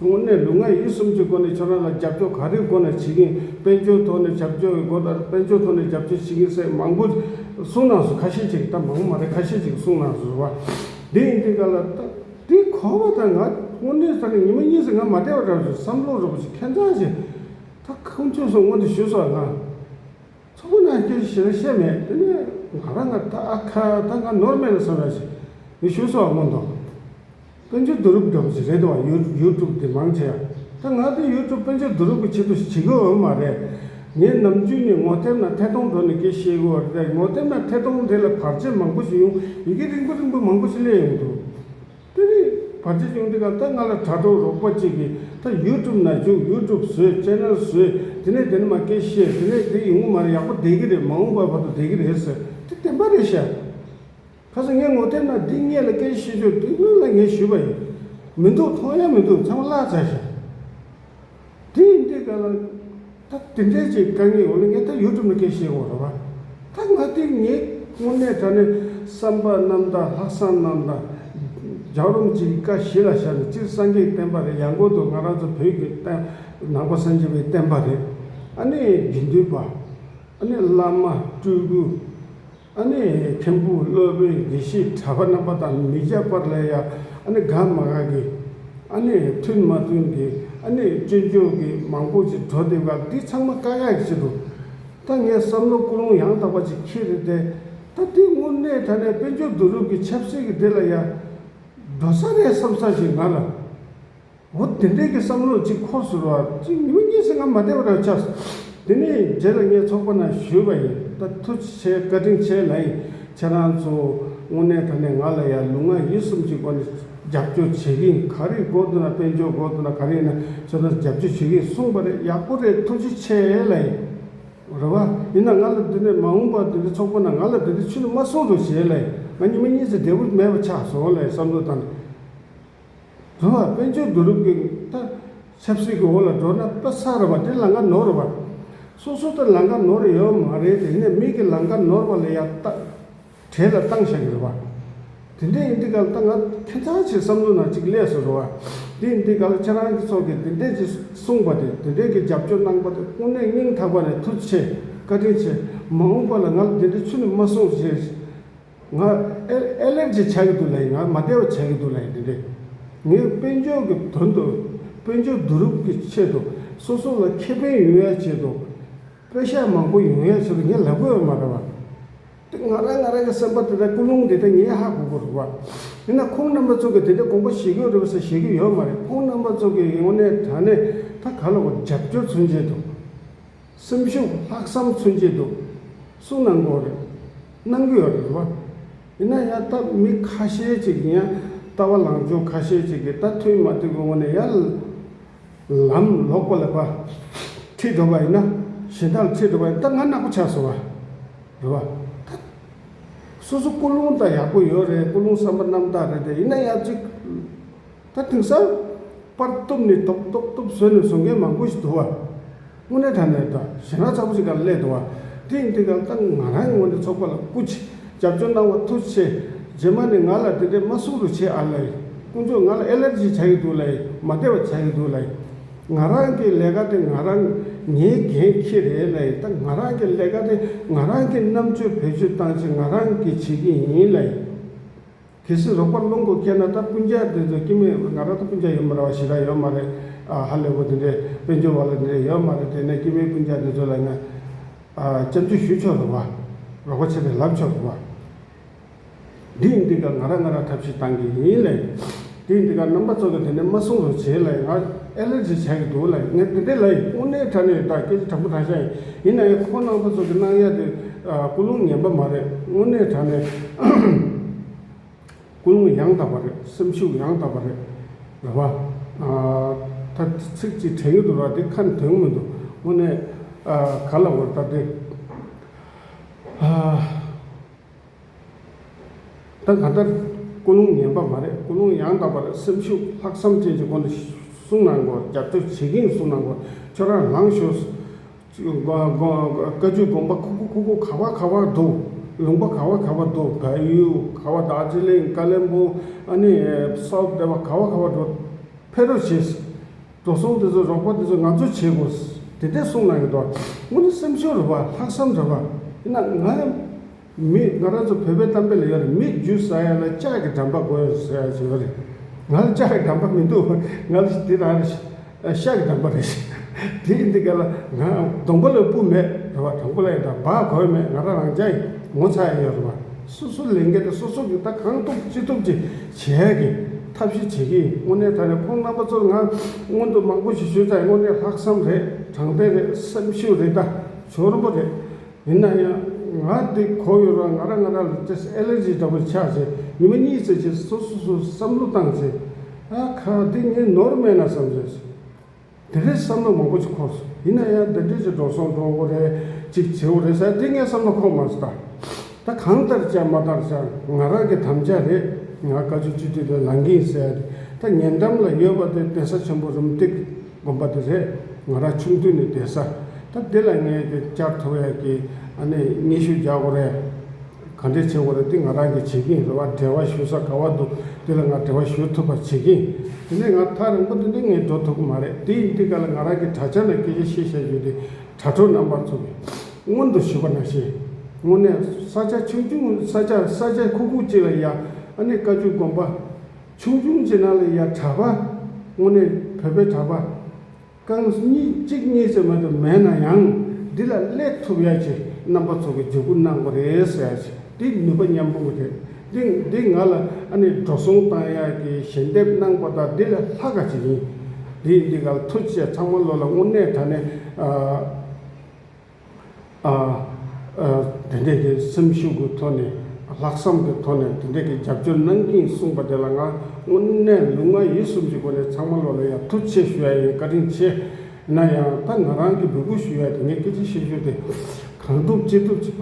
དངོས་གནས་ལུས་ངག་ཡིད་གསུམ་གྱི་སྒོ་ནས་ཁྱོད་རང་ལ་རྒྱབ་སྐྱོར་ག་རེའི་སྒོ་ནས་བྱེད་ཀྱིན་དཔལ་འབྱོར་ཐོག་ནས་རྒྱབ་སྐྱོར་གྱི་སྒོ་ལྟར་དཔལ་འབྱོར་ཐོག་ནས་རྒྱབ་སྐྱོར་བྱེད་ཀྱིན་སེ་མང་པོ་གསུང་ནང་སོ་ཁ་ཤས་ཅིག་ད་མང་པོ་མ་རེད་ཁ་ཤས་ཅིག་གསུང་ནང་སོ་བ་འདི་ཡིན་འདི་འགའ་ལ་ད་དེ་གོ་བ་ད་ང་དངོས་གནས་ད་ནི་ཉི་མ་གཉིས་སུ་ང་མ་བསྡད་པ་འདྲ་བ་ཞིག་བསམ་བློ་རོལ་པོ་ཞིག་ཁེངས་ཙང་ཞིག་ད་ཁོང་ཆུད་སོང་སྔོན་དུ་ཞུས་སོ་ང། མཚོ་སྔོན་ནང་སྐྱོད་ཀྱི་བྱེད་ལས་བཤད་མེད་དེ་ནི་ང་རང་ང་ད་ཁ་ད་ང་ནོར་མེད་ལ་བསམ་ཡག་ཞིག་ཡོད་ཞུ་སོགས་མངོན་མཐོ། དཔོན་ཆེན་བསྡུ་རུབ་སྒྲོག་ཅིག་རེད་དོ་ཡོ་ཡོ་ཀྲུབ་འདི་མང་ཆེ་ཡ་ད་ང་ད་ཡོ་ཀྲུབ་དཔོན་ཆེན་བསྡུ་རུབ་གི་ཆེད་དུ་བྱེད་གི་འོན་མ་རེད་ངའི་རྣམ་དཔྱོད་ནི་ངོ་དེབ་ན་ཐད་གཏོང་འགྲོ་ནི་གི་ཤེས་གི་འོ་རེད་ངོ་དེབ་ན་ཐད་གཏོང་དེ་ལ་བར་ཆད་མང་པོ་ཞིག་ཡོང་ཡི་གི་རིང་པོ་རིང་པོ་མང་པོ་ཞིག་སླེ་ཡོང་དུ། དེ་ནས་བར་ཆད་བྱུང་དེ་ག་ད་ང་ལ་དྲ་གྲོགས་རོགས་པ་གཅིག་གིས་ད YouTube ནང་བྱུང YouTube བཟོས Channel བཟོས་དེ་ནས་དེ་ནས་མ་སྐད་བཤད་དེ་ནས་དེ་ཡིན་ངོ་མ་རེད་ཡག་པོ་བསྡད་ཀྱི་རེད་མ་འོངས་པར་བར་དུ་བསྡད་ཀྱི་རེད་ཟེར་དེ་བདེན་པ་རེད་ཤག་ཁ་སང་ངས་ངོ་དེབ་ནང་འདི་སྙད་ལ་སྐད་ཆ་བཤད་རྒྱུར་དེ་སྔོན་ལ་ངས་ཞུས་པ་ཡིན་མི་འདུག་མཐོང་ཡ་མི་འདུག་ཚང་མ་བརླག་ཚར་ཤག། དེ་ཡིན་དུས་ག་ལ། ད་དེ་འདྲའི་ཅིག་དཀའ་ངལ་ཡོང་ན་ངས་ད་ཡུལ་གྲུ་མི་ཁེ་ཤེས་གོ་རེད་བ། ད་ང་དེ་ངས་དངོས་གནས་ད་ནི་བསམ་པ་རྣམ་དག་ལྷག་བསམ་རྣམ་དག། རྒྱག་རོམ་ཅིག་བཀའ་བཞི་ལ་ཤར་ནས་སྤྱིར་སངས་རྒྱས་བསྟན་པ་རེད་ཡང་གོ་དོ་ང་རང་ཚོ་བོད་ཀྱི་བསྟན། ནང་པ་སངས་རྒྱས་པའི་བསྟན་པ་རེད། ཨ་ནི་དགེ་འདུན་པ། ཨ་ནི་བླ་མ་སྤྲུལ་སྐུ། ཨ་ནི་ཐེམ་ཕུག་གློད་པའི་དགེ་བཤེས་གྲྭ་པ་རྣམ་པ་དང་མི་རྒྱག་པར་ལས་ཡ་ཨ་ནི་དགའ་མ་དགའ་གི་ཨ་ནི་མཐུན་མ་མཐུན་གི་ཨ་ནི་སྐྱོན་བརྗོད་གི་མང་པོ་ཅིག་བྲོ་དེབ་ཁག་འདི་ཚང་མ་དཀའ་ཁག་ཅིག་འདུག་ད་ངས་བསམ་བློ་ཀུན་སློང་ཡང་དག་པ་ཅིག་ཁྱེར་ཏེ་བསྡད་ད་དེ་དངོས་གནས་ད་ནས་དཔལ་འབྱོར་བསྡུ་རུབ་ཀྱི་ཆབ་སྲིད་ཀྱི་སྡེ་ལ་ཡ་འགྲོ་ས་རེད་བསམ་ས་ཞིག་ང་ལ། འོ་དེ་འདྲས་ཀྱི་བསམ་བློ་གཅིག་ཁོག་ཟུར་བ་གཅིག་སྙུན་གྱིས་སེམས་ཁ་མ་བདེ་བ་རང་ཆགས་སོ། དེ་ནས་རྗེས་ལ་ངས་ཚོགས་པ་ནང་ཞུས་པ་ཡིན་ད་ཐུགས་རྗེ་ཆེ་བཀའ་དྲིན་ཆེ་ལ་ཡིན་ཁྱེད་རང་ཚོ་དངོས་གནས་ད་ནས་ང་ལ་ཡ་ལུག་ང་ཡིད་གསུམ་གྱི་སྒོ་ནས་རྒྱབ་སྐྱོར་བྱེད་ཀྱི་ཡིན་ག་རེ་དགོས་འདུག་ན་དཔལ་འབྱོར་དགོས་འདུག་ན་ག་རེ་ཡིན་ན་ཁྱེད་རང་ཚོ་རྒྱབ་སྐྱོར་བྱེད་ཀྱི་ཡིན་གསུངས་པ་རེད་ཡག་པོ་རེད་ཐུགས་རྗེ་ཆེ་ལ་ཡིན། རེད་བ། ཡིན་ན་ང་ལ་འདི་ནས་མ་འོངས་པར་འདི་འདྲའི་ཚོགས་པ་ནང་ང་ལ་འདི་འདྲའི་ཆོས་ལུགས་མ་གསུངས་རོགས་ཞེས་ལ་ཡིན་ང་ཉི་མ་གཉིས་ཚེ་བདེ་བོ་མེད་པ་ཆགས་སོང་ལ་ཡིན་བསམ་བློ་བཏང་ནས། གང་ལ་དཔལ་འབྱོར་བསྡུ་རུབ་ཀྱིན་ལྟ། ཆབ་སྲིད་ཀྱི་འོག་ལ་འགྲོ་ན་ལྟ་ས་རེད་བ་དེ་ལང་ཀ་ནོར་རེད་བ། སོ་སོ་དེ་ལང་ཀ་ནོར་ཡོད་བ་མ་རེད་དེ་ནས་མིག་གི་ལང་ཀ་ནོར་བ་ལ་ཡ་ལྟ། གྲས་ལ་བཏང་བཞག་གི་རེད་བ། དེ་འདྲས་ཡིན་དུས་ག་ལ་ལྟ་ང་ཁྱོད་ཚང་ཆེ་བསམ་བློ་ནང་ཅིག་ཀླད་སོ་རེད་བ། དེ་ཡིན་དུས་ག་ལ་ཁྱེད་རང་གི་ཚོགས་ཀྱིས་དེ་འདྲས་ཀྱི་གསུངས་པ་དེ་དེ་འདྲས་ཀྱི་རྒྱབ་སྐྱོར་གནང་པ་དེ་དངོས་གནས་སྙིང་ཐག་པ་ནས་ཐུགས་ཆེ་བཀའ་དྲིན་ཆེ། མ་འོངས་པ་ལ་ང་ལ་དེ་འདྲས་ཆུ་ནས་མ་སོང་ཞེས། ང་ཨེ་ལེར་ཇི་བྱ་གི་འདུག་ལ་ཡིན་ང་མ་བདེ་བ་བྱ་གི་འདུག་ལ་ཡིན་དེ་འདྲས། ངས་དཔལ་འབྱོར་གྱི་དོན་དུ། དཔལ་འབྱོར་བསྡུ་རུབ་ཀྱི་ཆེད་དུ་སོ་སོ་ལ་ཁེ་ཕན་ཡོང་ཡ་ཆེད་དུ། པོད་ཤག་མང་པོ་ཡོང་ཡ་ཆེད་དུ་ངས་ལབ་དགོས་པ་མ་རེད་བ། དེ་ང་རང་ང་རང་གི་སེམས་པ་དེ་འདྲ་ཀུན་སློང་དེ་འདྲ་ངས་ཧ་གོ་གོ་རེད་བ། ཡིན་ན་ཁོང་རྣམ་པ་ཚོ་གི་དེ་འདྲའི་དགོངས་པ་བཞེས་གོ་རེད་བ་ས་བཞེས་གི་ཡོད་མ་རེད་ཁོང་རྣམ་པ་ཚོ་གི་ཡོང་ནས་དྲ་གནས་ད་ག་ལ་བ་རྒྱབ་སྐྱོར་མཚོན་བྱེད་དུ། སེམས་ཤུགས་ལྷག་བསམ་མཚོན་གྱི་འདུག་གསུང་གནང་དགོས་རེད། གནང་གི་ཡོད་རེད་བ། ཡིན་ན་ཡང་སྟབས་མི་ཁ་ཤས་ཅིག་གིས་ཡང་ལྟ་བ་ལངས་བྱུང་ཁ་ཤས་ཅིག་གིས་ལྟ་ཐུལ་མ་ཐུལ་གི་ངོ་ནས་ཡང་ལམ་ལོག་པ་ལས་པ་ཁྲིད་འགྲོ་བ་ཡིན་ན་གཞན་དག་ལ་ཁྲིད་འགྲོ་བ་ཡིན་ད་ང་ནག་པོ་ཆགས་སོང་བ་རེད་བ། ད་སོ་སོ་ཀུན་སློང་དང་ཡག་པོ་ཡོད་རེད་ཀུན་སློང་བསམ་པ་རྣམ་དག་རེད་དེ་ཡིན་ན་ཡང་ཅིག། ད་དུང་གསར་པར་གཏུབ་ནས་གཏོགས་གཏོགས་གཏུབ་བཟོས་ནས་བཟོ་མཁན་མང་པོ་ཞིག་འདུག་བ། དངོས་གནས་ད་ནས་ད་གཞན་ར་ཚ་པོ་ཞིག་ག་ལ་སླེབས་འདུག་བ། དེ་ཡིན་དེ་གང་ད་ང་རང་ངོ་ནས་ཚོགས་པ་ལ་སྐུ་ཕྱི་རྒྱབ་སྐྱོར་གནང་བ་ཐུགས་ཆེ། རྗེས་མ་ནས་ང་ལ་དེ་འདྲས་མ་སུ་རུ་བྱེད་ཨ་ལེ། དཀོན་མཆོག་ང་ལ་ཨེ་ལེར་ཇི་བྱ་གི་འདུག་ལེ་མ་བདེ་བ་བྱ་གི་འདུག་ལེ། ང་རང་གི་ལས་ཀ་དེ་ང་རང་ངའི་འགན་ཁྱེད་རེད་ལེ་ད་ང་རང་གི་ལས་ཀ་དེ་ང་རང་གི་རྣམ་དཔྱོད་བེད་སྤྱོད་བཏང་ཆེད་ང་རང་གི་བྱེད་ཀྱི་ཡིན་ལེ། གལ་སྲིད་རོགས་པ་སློང་དགོས་སྐད་ན་ད་སྤུན་རྒྱག་དེ་ཚོ་སྐྱིད་མོད་ང་རང་ད་སྤུན་རྒྱག་ཡོད་མ་རེད་བ་ཞི་ར་ཡོད་མ་རེད་ཨ་ཧ་ལས་པོ་དེ་འདྲས་དཔལ་འབྱོར་བ་ལ་དེ་འདྲས་ཡོད་མ་རེད་དེ་ནས་སྐྱིད་མོའི་སྤུན་རྒྱག་དེ་ཚོ་ལ་ཡང་སྐྱབས་འཇུག་ཞུ་ཆོག་རེད་བ། རོགས་པ་ཆེ་གྲས་ལབ་ཆོག་རེད་བ། དེ་འདི་ག་ང་ར་ང་ར་ཐབས་ཤེས་བཏང་གི་ཡིན་ལས། དེ་འདི་ག་རྣམ་པ་ཚོ་གི་དེ་ནས་མ་སྲུང་རུང་བྱས་ལས་ང་ཨེ་ལེ་རྗི་བྱས་གི་འདུག་ལས་ངས་དེ་འདྲས་ལས་དབུ་ནས་དྲ་ནས་ད་སྐད་ཆ་དྲང་པོ་དྲང་ཤག་ཡིན། ཡིན་ནའི་ཁོ་ནང་པ་ཚོ་གི་སྣང་ཡལ་དེ་སྐུ་རླུང་ངན་པ་མ་རེད་དངོས་གནས་དྲ་ནས་སྐུ་རླུང་ཡང་དག་པ་རེད་སེམས་ཤུགས་ཡང་དག་པ་རེད་རེད་བ། ད་ཚིག་ཅིག་དྲན་གྱི་འདུག་ར་དེ་ཁ་དོན་མི་འདུག་དངོས་གནས་ག་ལ་འོས་ད་དེ། ད་ག་ལྟར། ཀུན་སློང་ངན་པ་མ་རེད་ཀུན་སློང་ཡང་དག་པར་སེམས་ཤུགས་ལྷག་བསམ་ཅན་གྱི་སྒོ་ནས་གསུང་གནང་དགོས་རྒྱབ་སྐྱོར་བྱེད་མཁན་གསུང་གནང་དགོས་ཁྱོད་རང་ལངས་ཤོག། བཀའ་བརྒྱུད་དགོངས་པ་ཁུག་ཁུག་ཁུག་ཁུག་ག་བ་ག་བ་འདུག་ལུང་པ་ག་བ་ག་བ་འདུག་བལ་ཡུལ་ག་བ་དག་ཟི་ལིང་ཀ་ལེན་པུང་ཨ་ནི་སོགས་བསྡད་པ་ག་བ་ག་བ་འགྲོ་ཕེ་རོ་བྱེད། འགྲོ་སོང་འདི་ཚོ་རོགས་པ་འདི་ཚོ་ང་ཚོས་བྱེད་དགོས། དེ་ལྟའི་གསུང་གནང་ཡོད་དོ། སྔོན་ནས་སེམས་ཤུགས་རེད་པ་ལྷག་བསམ་རེད་པ། ཡིན་ན་ང་ཡང། མི་ང་རང་ཚོ་བོད་པའི་གཏམ་དཔེ་ལ་ཡོད་རེད་མི་རྒྱུད་ཟ་ཡ་ལ་ལྕགས་ཀྱི་འགྲམ་པ་དགོས་ཡོད་ཟེར་ཡ་ཡོད་རེད། ང་ལ་ལྕགས་ཀྱི་འགྲམ་པ་མི་འདུག་ང་ལ་དེ་རང་རེད། ཤ་གི་འགྲམ་པ་རེད། དེ་ཡིན་དེ་ག་ལ་ང་སྡོང་པོ་ལ་སྤུ་མེད་རེད་པ་དྲང་པོ་ལ་ཡིན་དྲང་བག་གོ་ཡ་མེད་ང་རང་རང་ཅག་ཡིན་ངོ་ཚ་ཡ་ཡོད་རེད་པ། སོ་སོ་ལས་འགལ་ཏེ་སོ་སོ་གིས་ད་གང་ཐུབ་ཅི་ཐུབ་ཀྱི་བྱས་ཀྱི་ཐབས་ཤེས་བྱེད་ཀྱི་དངོས་གནས་ད་ནི་ཁོང་རྣམ་པ་ཚོར་ང་སྔོན་དུ་མང་པོ་ཞིག་ཞུས་ཙང་དངོས་གནས་ལྷག་བསམ་རེད་དྲང་བདེན་རེད་སེམས་ཤུགས་རེད་ད་འབྱོར་པོ་རེད། ཡིན་ན་ཡང་ང་འདི་གོ་ཡོད་རང་ང་རང་ང་རང་ལ་སྟྲེ་སི་ཨེ་ལེར་ཇི་འདྲ་པོ་ཆགས་ཚེ་ཉི་མ་གཉིས་བརྩེགས་རྗེས་སོ་སོ་སོ་བསམ་བློ་བཏང་ཚེ། ཨ་ཁ་འདི་ངས་ནོར་མེད་ན་བསམ་བྱས་སོང། དེ་རེད་བསམ་བློ་མང་པོ་ཅིག་འཁོར་སོང་ཡིན་ན་ཡང་འདི་འདྲའི་ཅིག་འགྲོ་སོང་འགྲོ་འོང་རེད་ཅིག་བྱེད་འོང་རེད་ས་དེ་ངས་བསམ་བློ་འཁོར་མ་ཟད། ད་གང་ལྟར་བྱ་མ་ལྟར་བྱ་ང་རང་གི་དམ་བཅའ་རེད་ང་བཀའ་བཅུ་གཅིག་སྒྲིལ་ལ་ལངས་གིན་ཟེར་ཡ་ད་ཉེ་འགྲམ་ལ་ཡོད་པ་དེ་གདན་ས་ཆེན་པོ་རུམ་སྟེགས་དགོན་པ་དེ་རེད་ང་རང་ཆུང་དུས་ནས་བསྡད་ས་ད་དེ་ལ་ངས་ཀྱི་བཅར་ཐུབ་ཡ་ཀྱི་ཨ་ནེ་སྙན་ཞུ་རྒྱག་དགོས་རེད། གང་འདྲའི་ཆེ་བ་རེད་འདི་ང་རང་གིས་བྱེད་ཀྱིན་རེད་བ་བྲེལ་བ་ཞུ་ས་ག་བ་འདུག་འདི་ལ་ང་བྲེལ་བ་ཞུ་ཐུབ་པ་བྱེད་ཀྱིན་དེ་ནས་ང་ཐག་རིང་པོ་དེ་འདི་ངས་འགྲོ་ཐུབ་གི་མ་རེད་དེ་ཡིན་དེ་ག་ལ་ང་རང་གི་དྲ་ཆ་ན་སྐད་ཆ་བཤད་བཤད་བྱུང་དེ་དྲ་གྲོགས་རྣམ་པར་ཚོགས་ཀྱིས་སྔོན་དུ་ཞུས་པ་ན་ཤེས། དངོས་གནས་ས་ཆ་ཆུང་ཆུང་ས་ཆ་ས་ཆ་ཁུག་ཁུག་ཅིག་ལ་ཡ་ཨ་ནི་བཀའ་བཅུ་དགོན་པ། ཆུང་ཆུང་ཅིག་ན་ལ་ཡ་གྲྭ་པ། དངོས་གནས་བོད་པའི་གྲྭ་པ། རྐང་གཉིས་གཅིག་གཉིས་ཙམ་མ་དུ་མེད་ན་ཡང་འདི་ལ་སླེ་ཐུབ་ཡ་ཆེ་རྣམ་པ་ཚོ་གི་འཇུག་སྒོ་གནང་པ་རེད་ཟེར་ཡ་ཆེ་འདི་ནུས་པ་མཉམ་སྤུངས་གི་རེད་འདི་འདི་ང་ལ་ཨ་ནེ་འགྲོ་སོང་བཏང་ཡ་གི་ཞལ་འདེབས་གནང་པ་དང་འདི་ལ་ལྷ་ག་ཅིག་ཡིན་འདི་འདི་ག་ལ་ཐུག་བཅས་ཚང་མ་བློ་ལ་དངོས་གནས་ད་ནས་ཨ། དེ་འདྲས་ཀྱི་སེམས་ཤུགས་ཀྱི་ཐོག་ནས་ལྷག་བསམ་གྱི་ཐོག་ནས་དེ་འདྲས་ཀྱི་རྒྱབ་སྐྱོར་གནང་གིན་གསུངས་པ་དེ་ལ་ང་དངོས་གནས་ལུས་ངག་ཡིད་གསུམ་གྱི་སྒོ་ནས་ཚང་མ་བློ་ལ་ཡར་ཐུགས་ཆེ་ཞུ་ཡ་ཡིན་བཀའ་དྲིན་ཆེ། ན་ཡང་ད་ང་རང་གིས་འབོད་སྐུལ་ཞུ་ཡ་དེ་ངའི་སྐད་ཆའི་ཤན་ཤུགས་དེ་གང་ཐུབ་ཅི་ཐུབ་བྱེད་པ།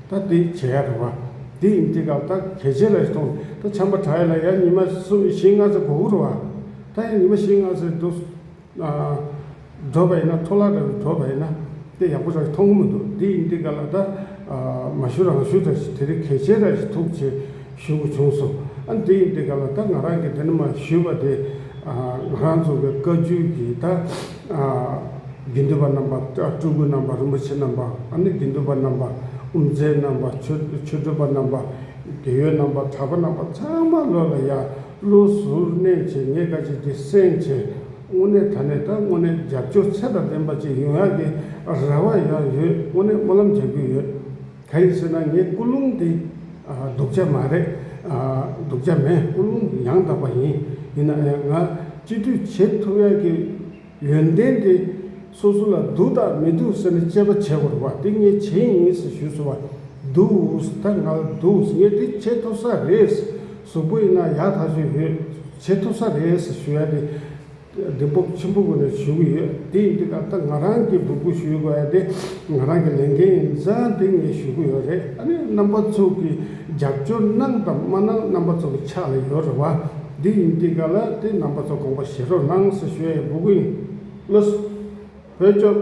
ད་དེ་བྱེད་ཡག་རེད་བ། དེ་ཡིན་དེ་སྐབས་ད་གལ་ཆེན་རེད་སྟོང། ད་བྱམས་པ་གྲྭ་ཡིན་ལ་ཡ་ཉི་མ་གསུམ་ཡི་ཤིང་སྔ་ས་གོ་བོ་རེད་བ། ད་ཡ་ཉི་མ་ཤིང་སྔ་སའི་འདུག། འགྲོ་བ་ཡིན་ན་ཐོ་ལག་འདྲ་བའི་འགྲོ་བ་ཡིན་ན། དེ་ཡག་པོ་ར་ཞིག་མཐོང་གི་མི་འདུག་དེ་ཡིན་དེ་སྐབས་ལ་ད། མ་ཞུ་རང་ཞུ་ར་ཞིག་དེ་རིང་གལ་ཆེན་ར་ཞིག་ཐུག་ཅེས་ཞུ་དགོས་བྱུང་སོང། ཨ་དེ་ཡིན་དེ་སྐབས་ལ་ད་ང་རང་གིས་དེ་འདྲ་མ་ཞུས་པ་དེ། ང་རང་རྫོགས་པའི་བཀའ་བརྒྱུད་ཀྱིས་ད། དགེ་འདུན་པ་རྣམ་པ་སྤྲུལ་སྐུ་རྣམ་པ་རིན་པོ་ཆེ་རྣམ་པ་ཨ་ནི་དགེ་འདུན་པ་རྣམ་པ་དབུ་མཛད་རྣམ་པ་ཆོས་སྒྲོན་པ་རྣམ་པ་དགེ་ཡོལ་རྣམ་པ་གྲྭ་པ་རྣམ་པ་ཚང་མ་ལོ་ལ་ཡར་ཀླུ་ཟུར་གནས་བྱེད་ངས་བཀའ་བྱེད་ཀྱི་སེང་བྱེད་དངོས་གནས་ད་ནས་ད་དངོས་གནས་རྒྱབ་སྐྱོར་ཚད་དང་ལྡན་པ་ཅིག་ཡོང་ཡག་གི་རེ་བ་ཡང་ཡོད་དངོས་གནས་སྨོན་ལམ་རྒྱག་རྒྱུ་ཡོད། ག་རེ་བྱས་ན་ངའི་ཀུན་སློང་དེ་སྡུག་ཅག་མ་རེད། སྡུག་ཅག་མེད་ཀུན་སློང་དེ་ཡང་དག་པ་ཡིན། ཡིན་ནའང་ང་སྤྱི་འཐུས་བྱེད་ཐུབ་ཡག་གི་ཡོན་ཏན་དེ་སོ་སོ་ལ་སྡུག་དང་མི་སྡུག་ཟེར་ནས་དཔྱད་པ་བྱེད་དགོས་པ་དེ་ངས་བྱེད་ཡིན་ཞེས་ཞུས་སོང་བ་འདུག་ད་ང་ལ་འདུག་ངས་དེ་བྱེད་ཐུབ་ས་རེད། གཟུགས་པོ་ཡིན་ན་ཡག་ཐག་ཆོད་ཡོད་བྱེད་ཐུབ་ས་རེད་ཞུ་ཡ་དེ། བདེན་སྤོབས་ཆེན་པོ་ངོས་ནས་ཞུ་གི་ཡོད་དེ་ཡིན་དུས་ད་ལྟ་ང་རང་གིས་སྦུག་སྦུག་ཞུ་ཡི་གོ་ཡ་དེ་ང་རང་གི་ལས་འགན་ཡིན་ས་དེ་ངས་ཞུ་གི་ཡོད་རེད་ཨ་ནི་རྣམ་པ་ཚོ་གི་རྒྱབ་སྐྱོར་གནང་དང་མ་གནང་རྣམ་པ་ཚོ་གི་ཕྱག་ལས་ཡོད་རེད་བ་དེ་ཡིན་དུས་ག་ལ་དེ་རྣམ་པ་ཚོ་དགོངས་པ་བཞེས་རོགས་གནང་ཟེར་ཞུ་ཡ་ཡིན་སྦུག་སྦུག་ཡིན། བློ་བོད་སྐྱོབས།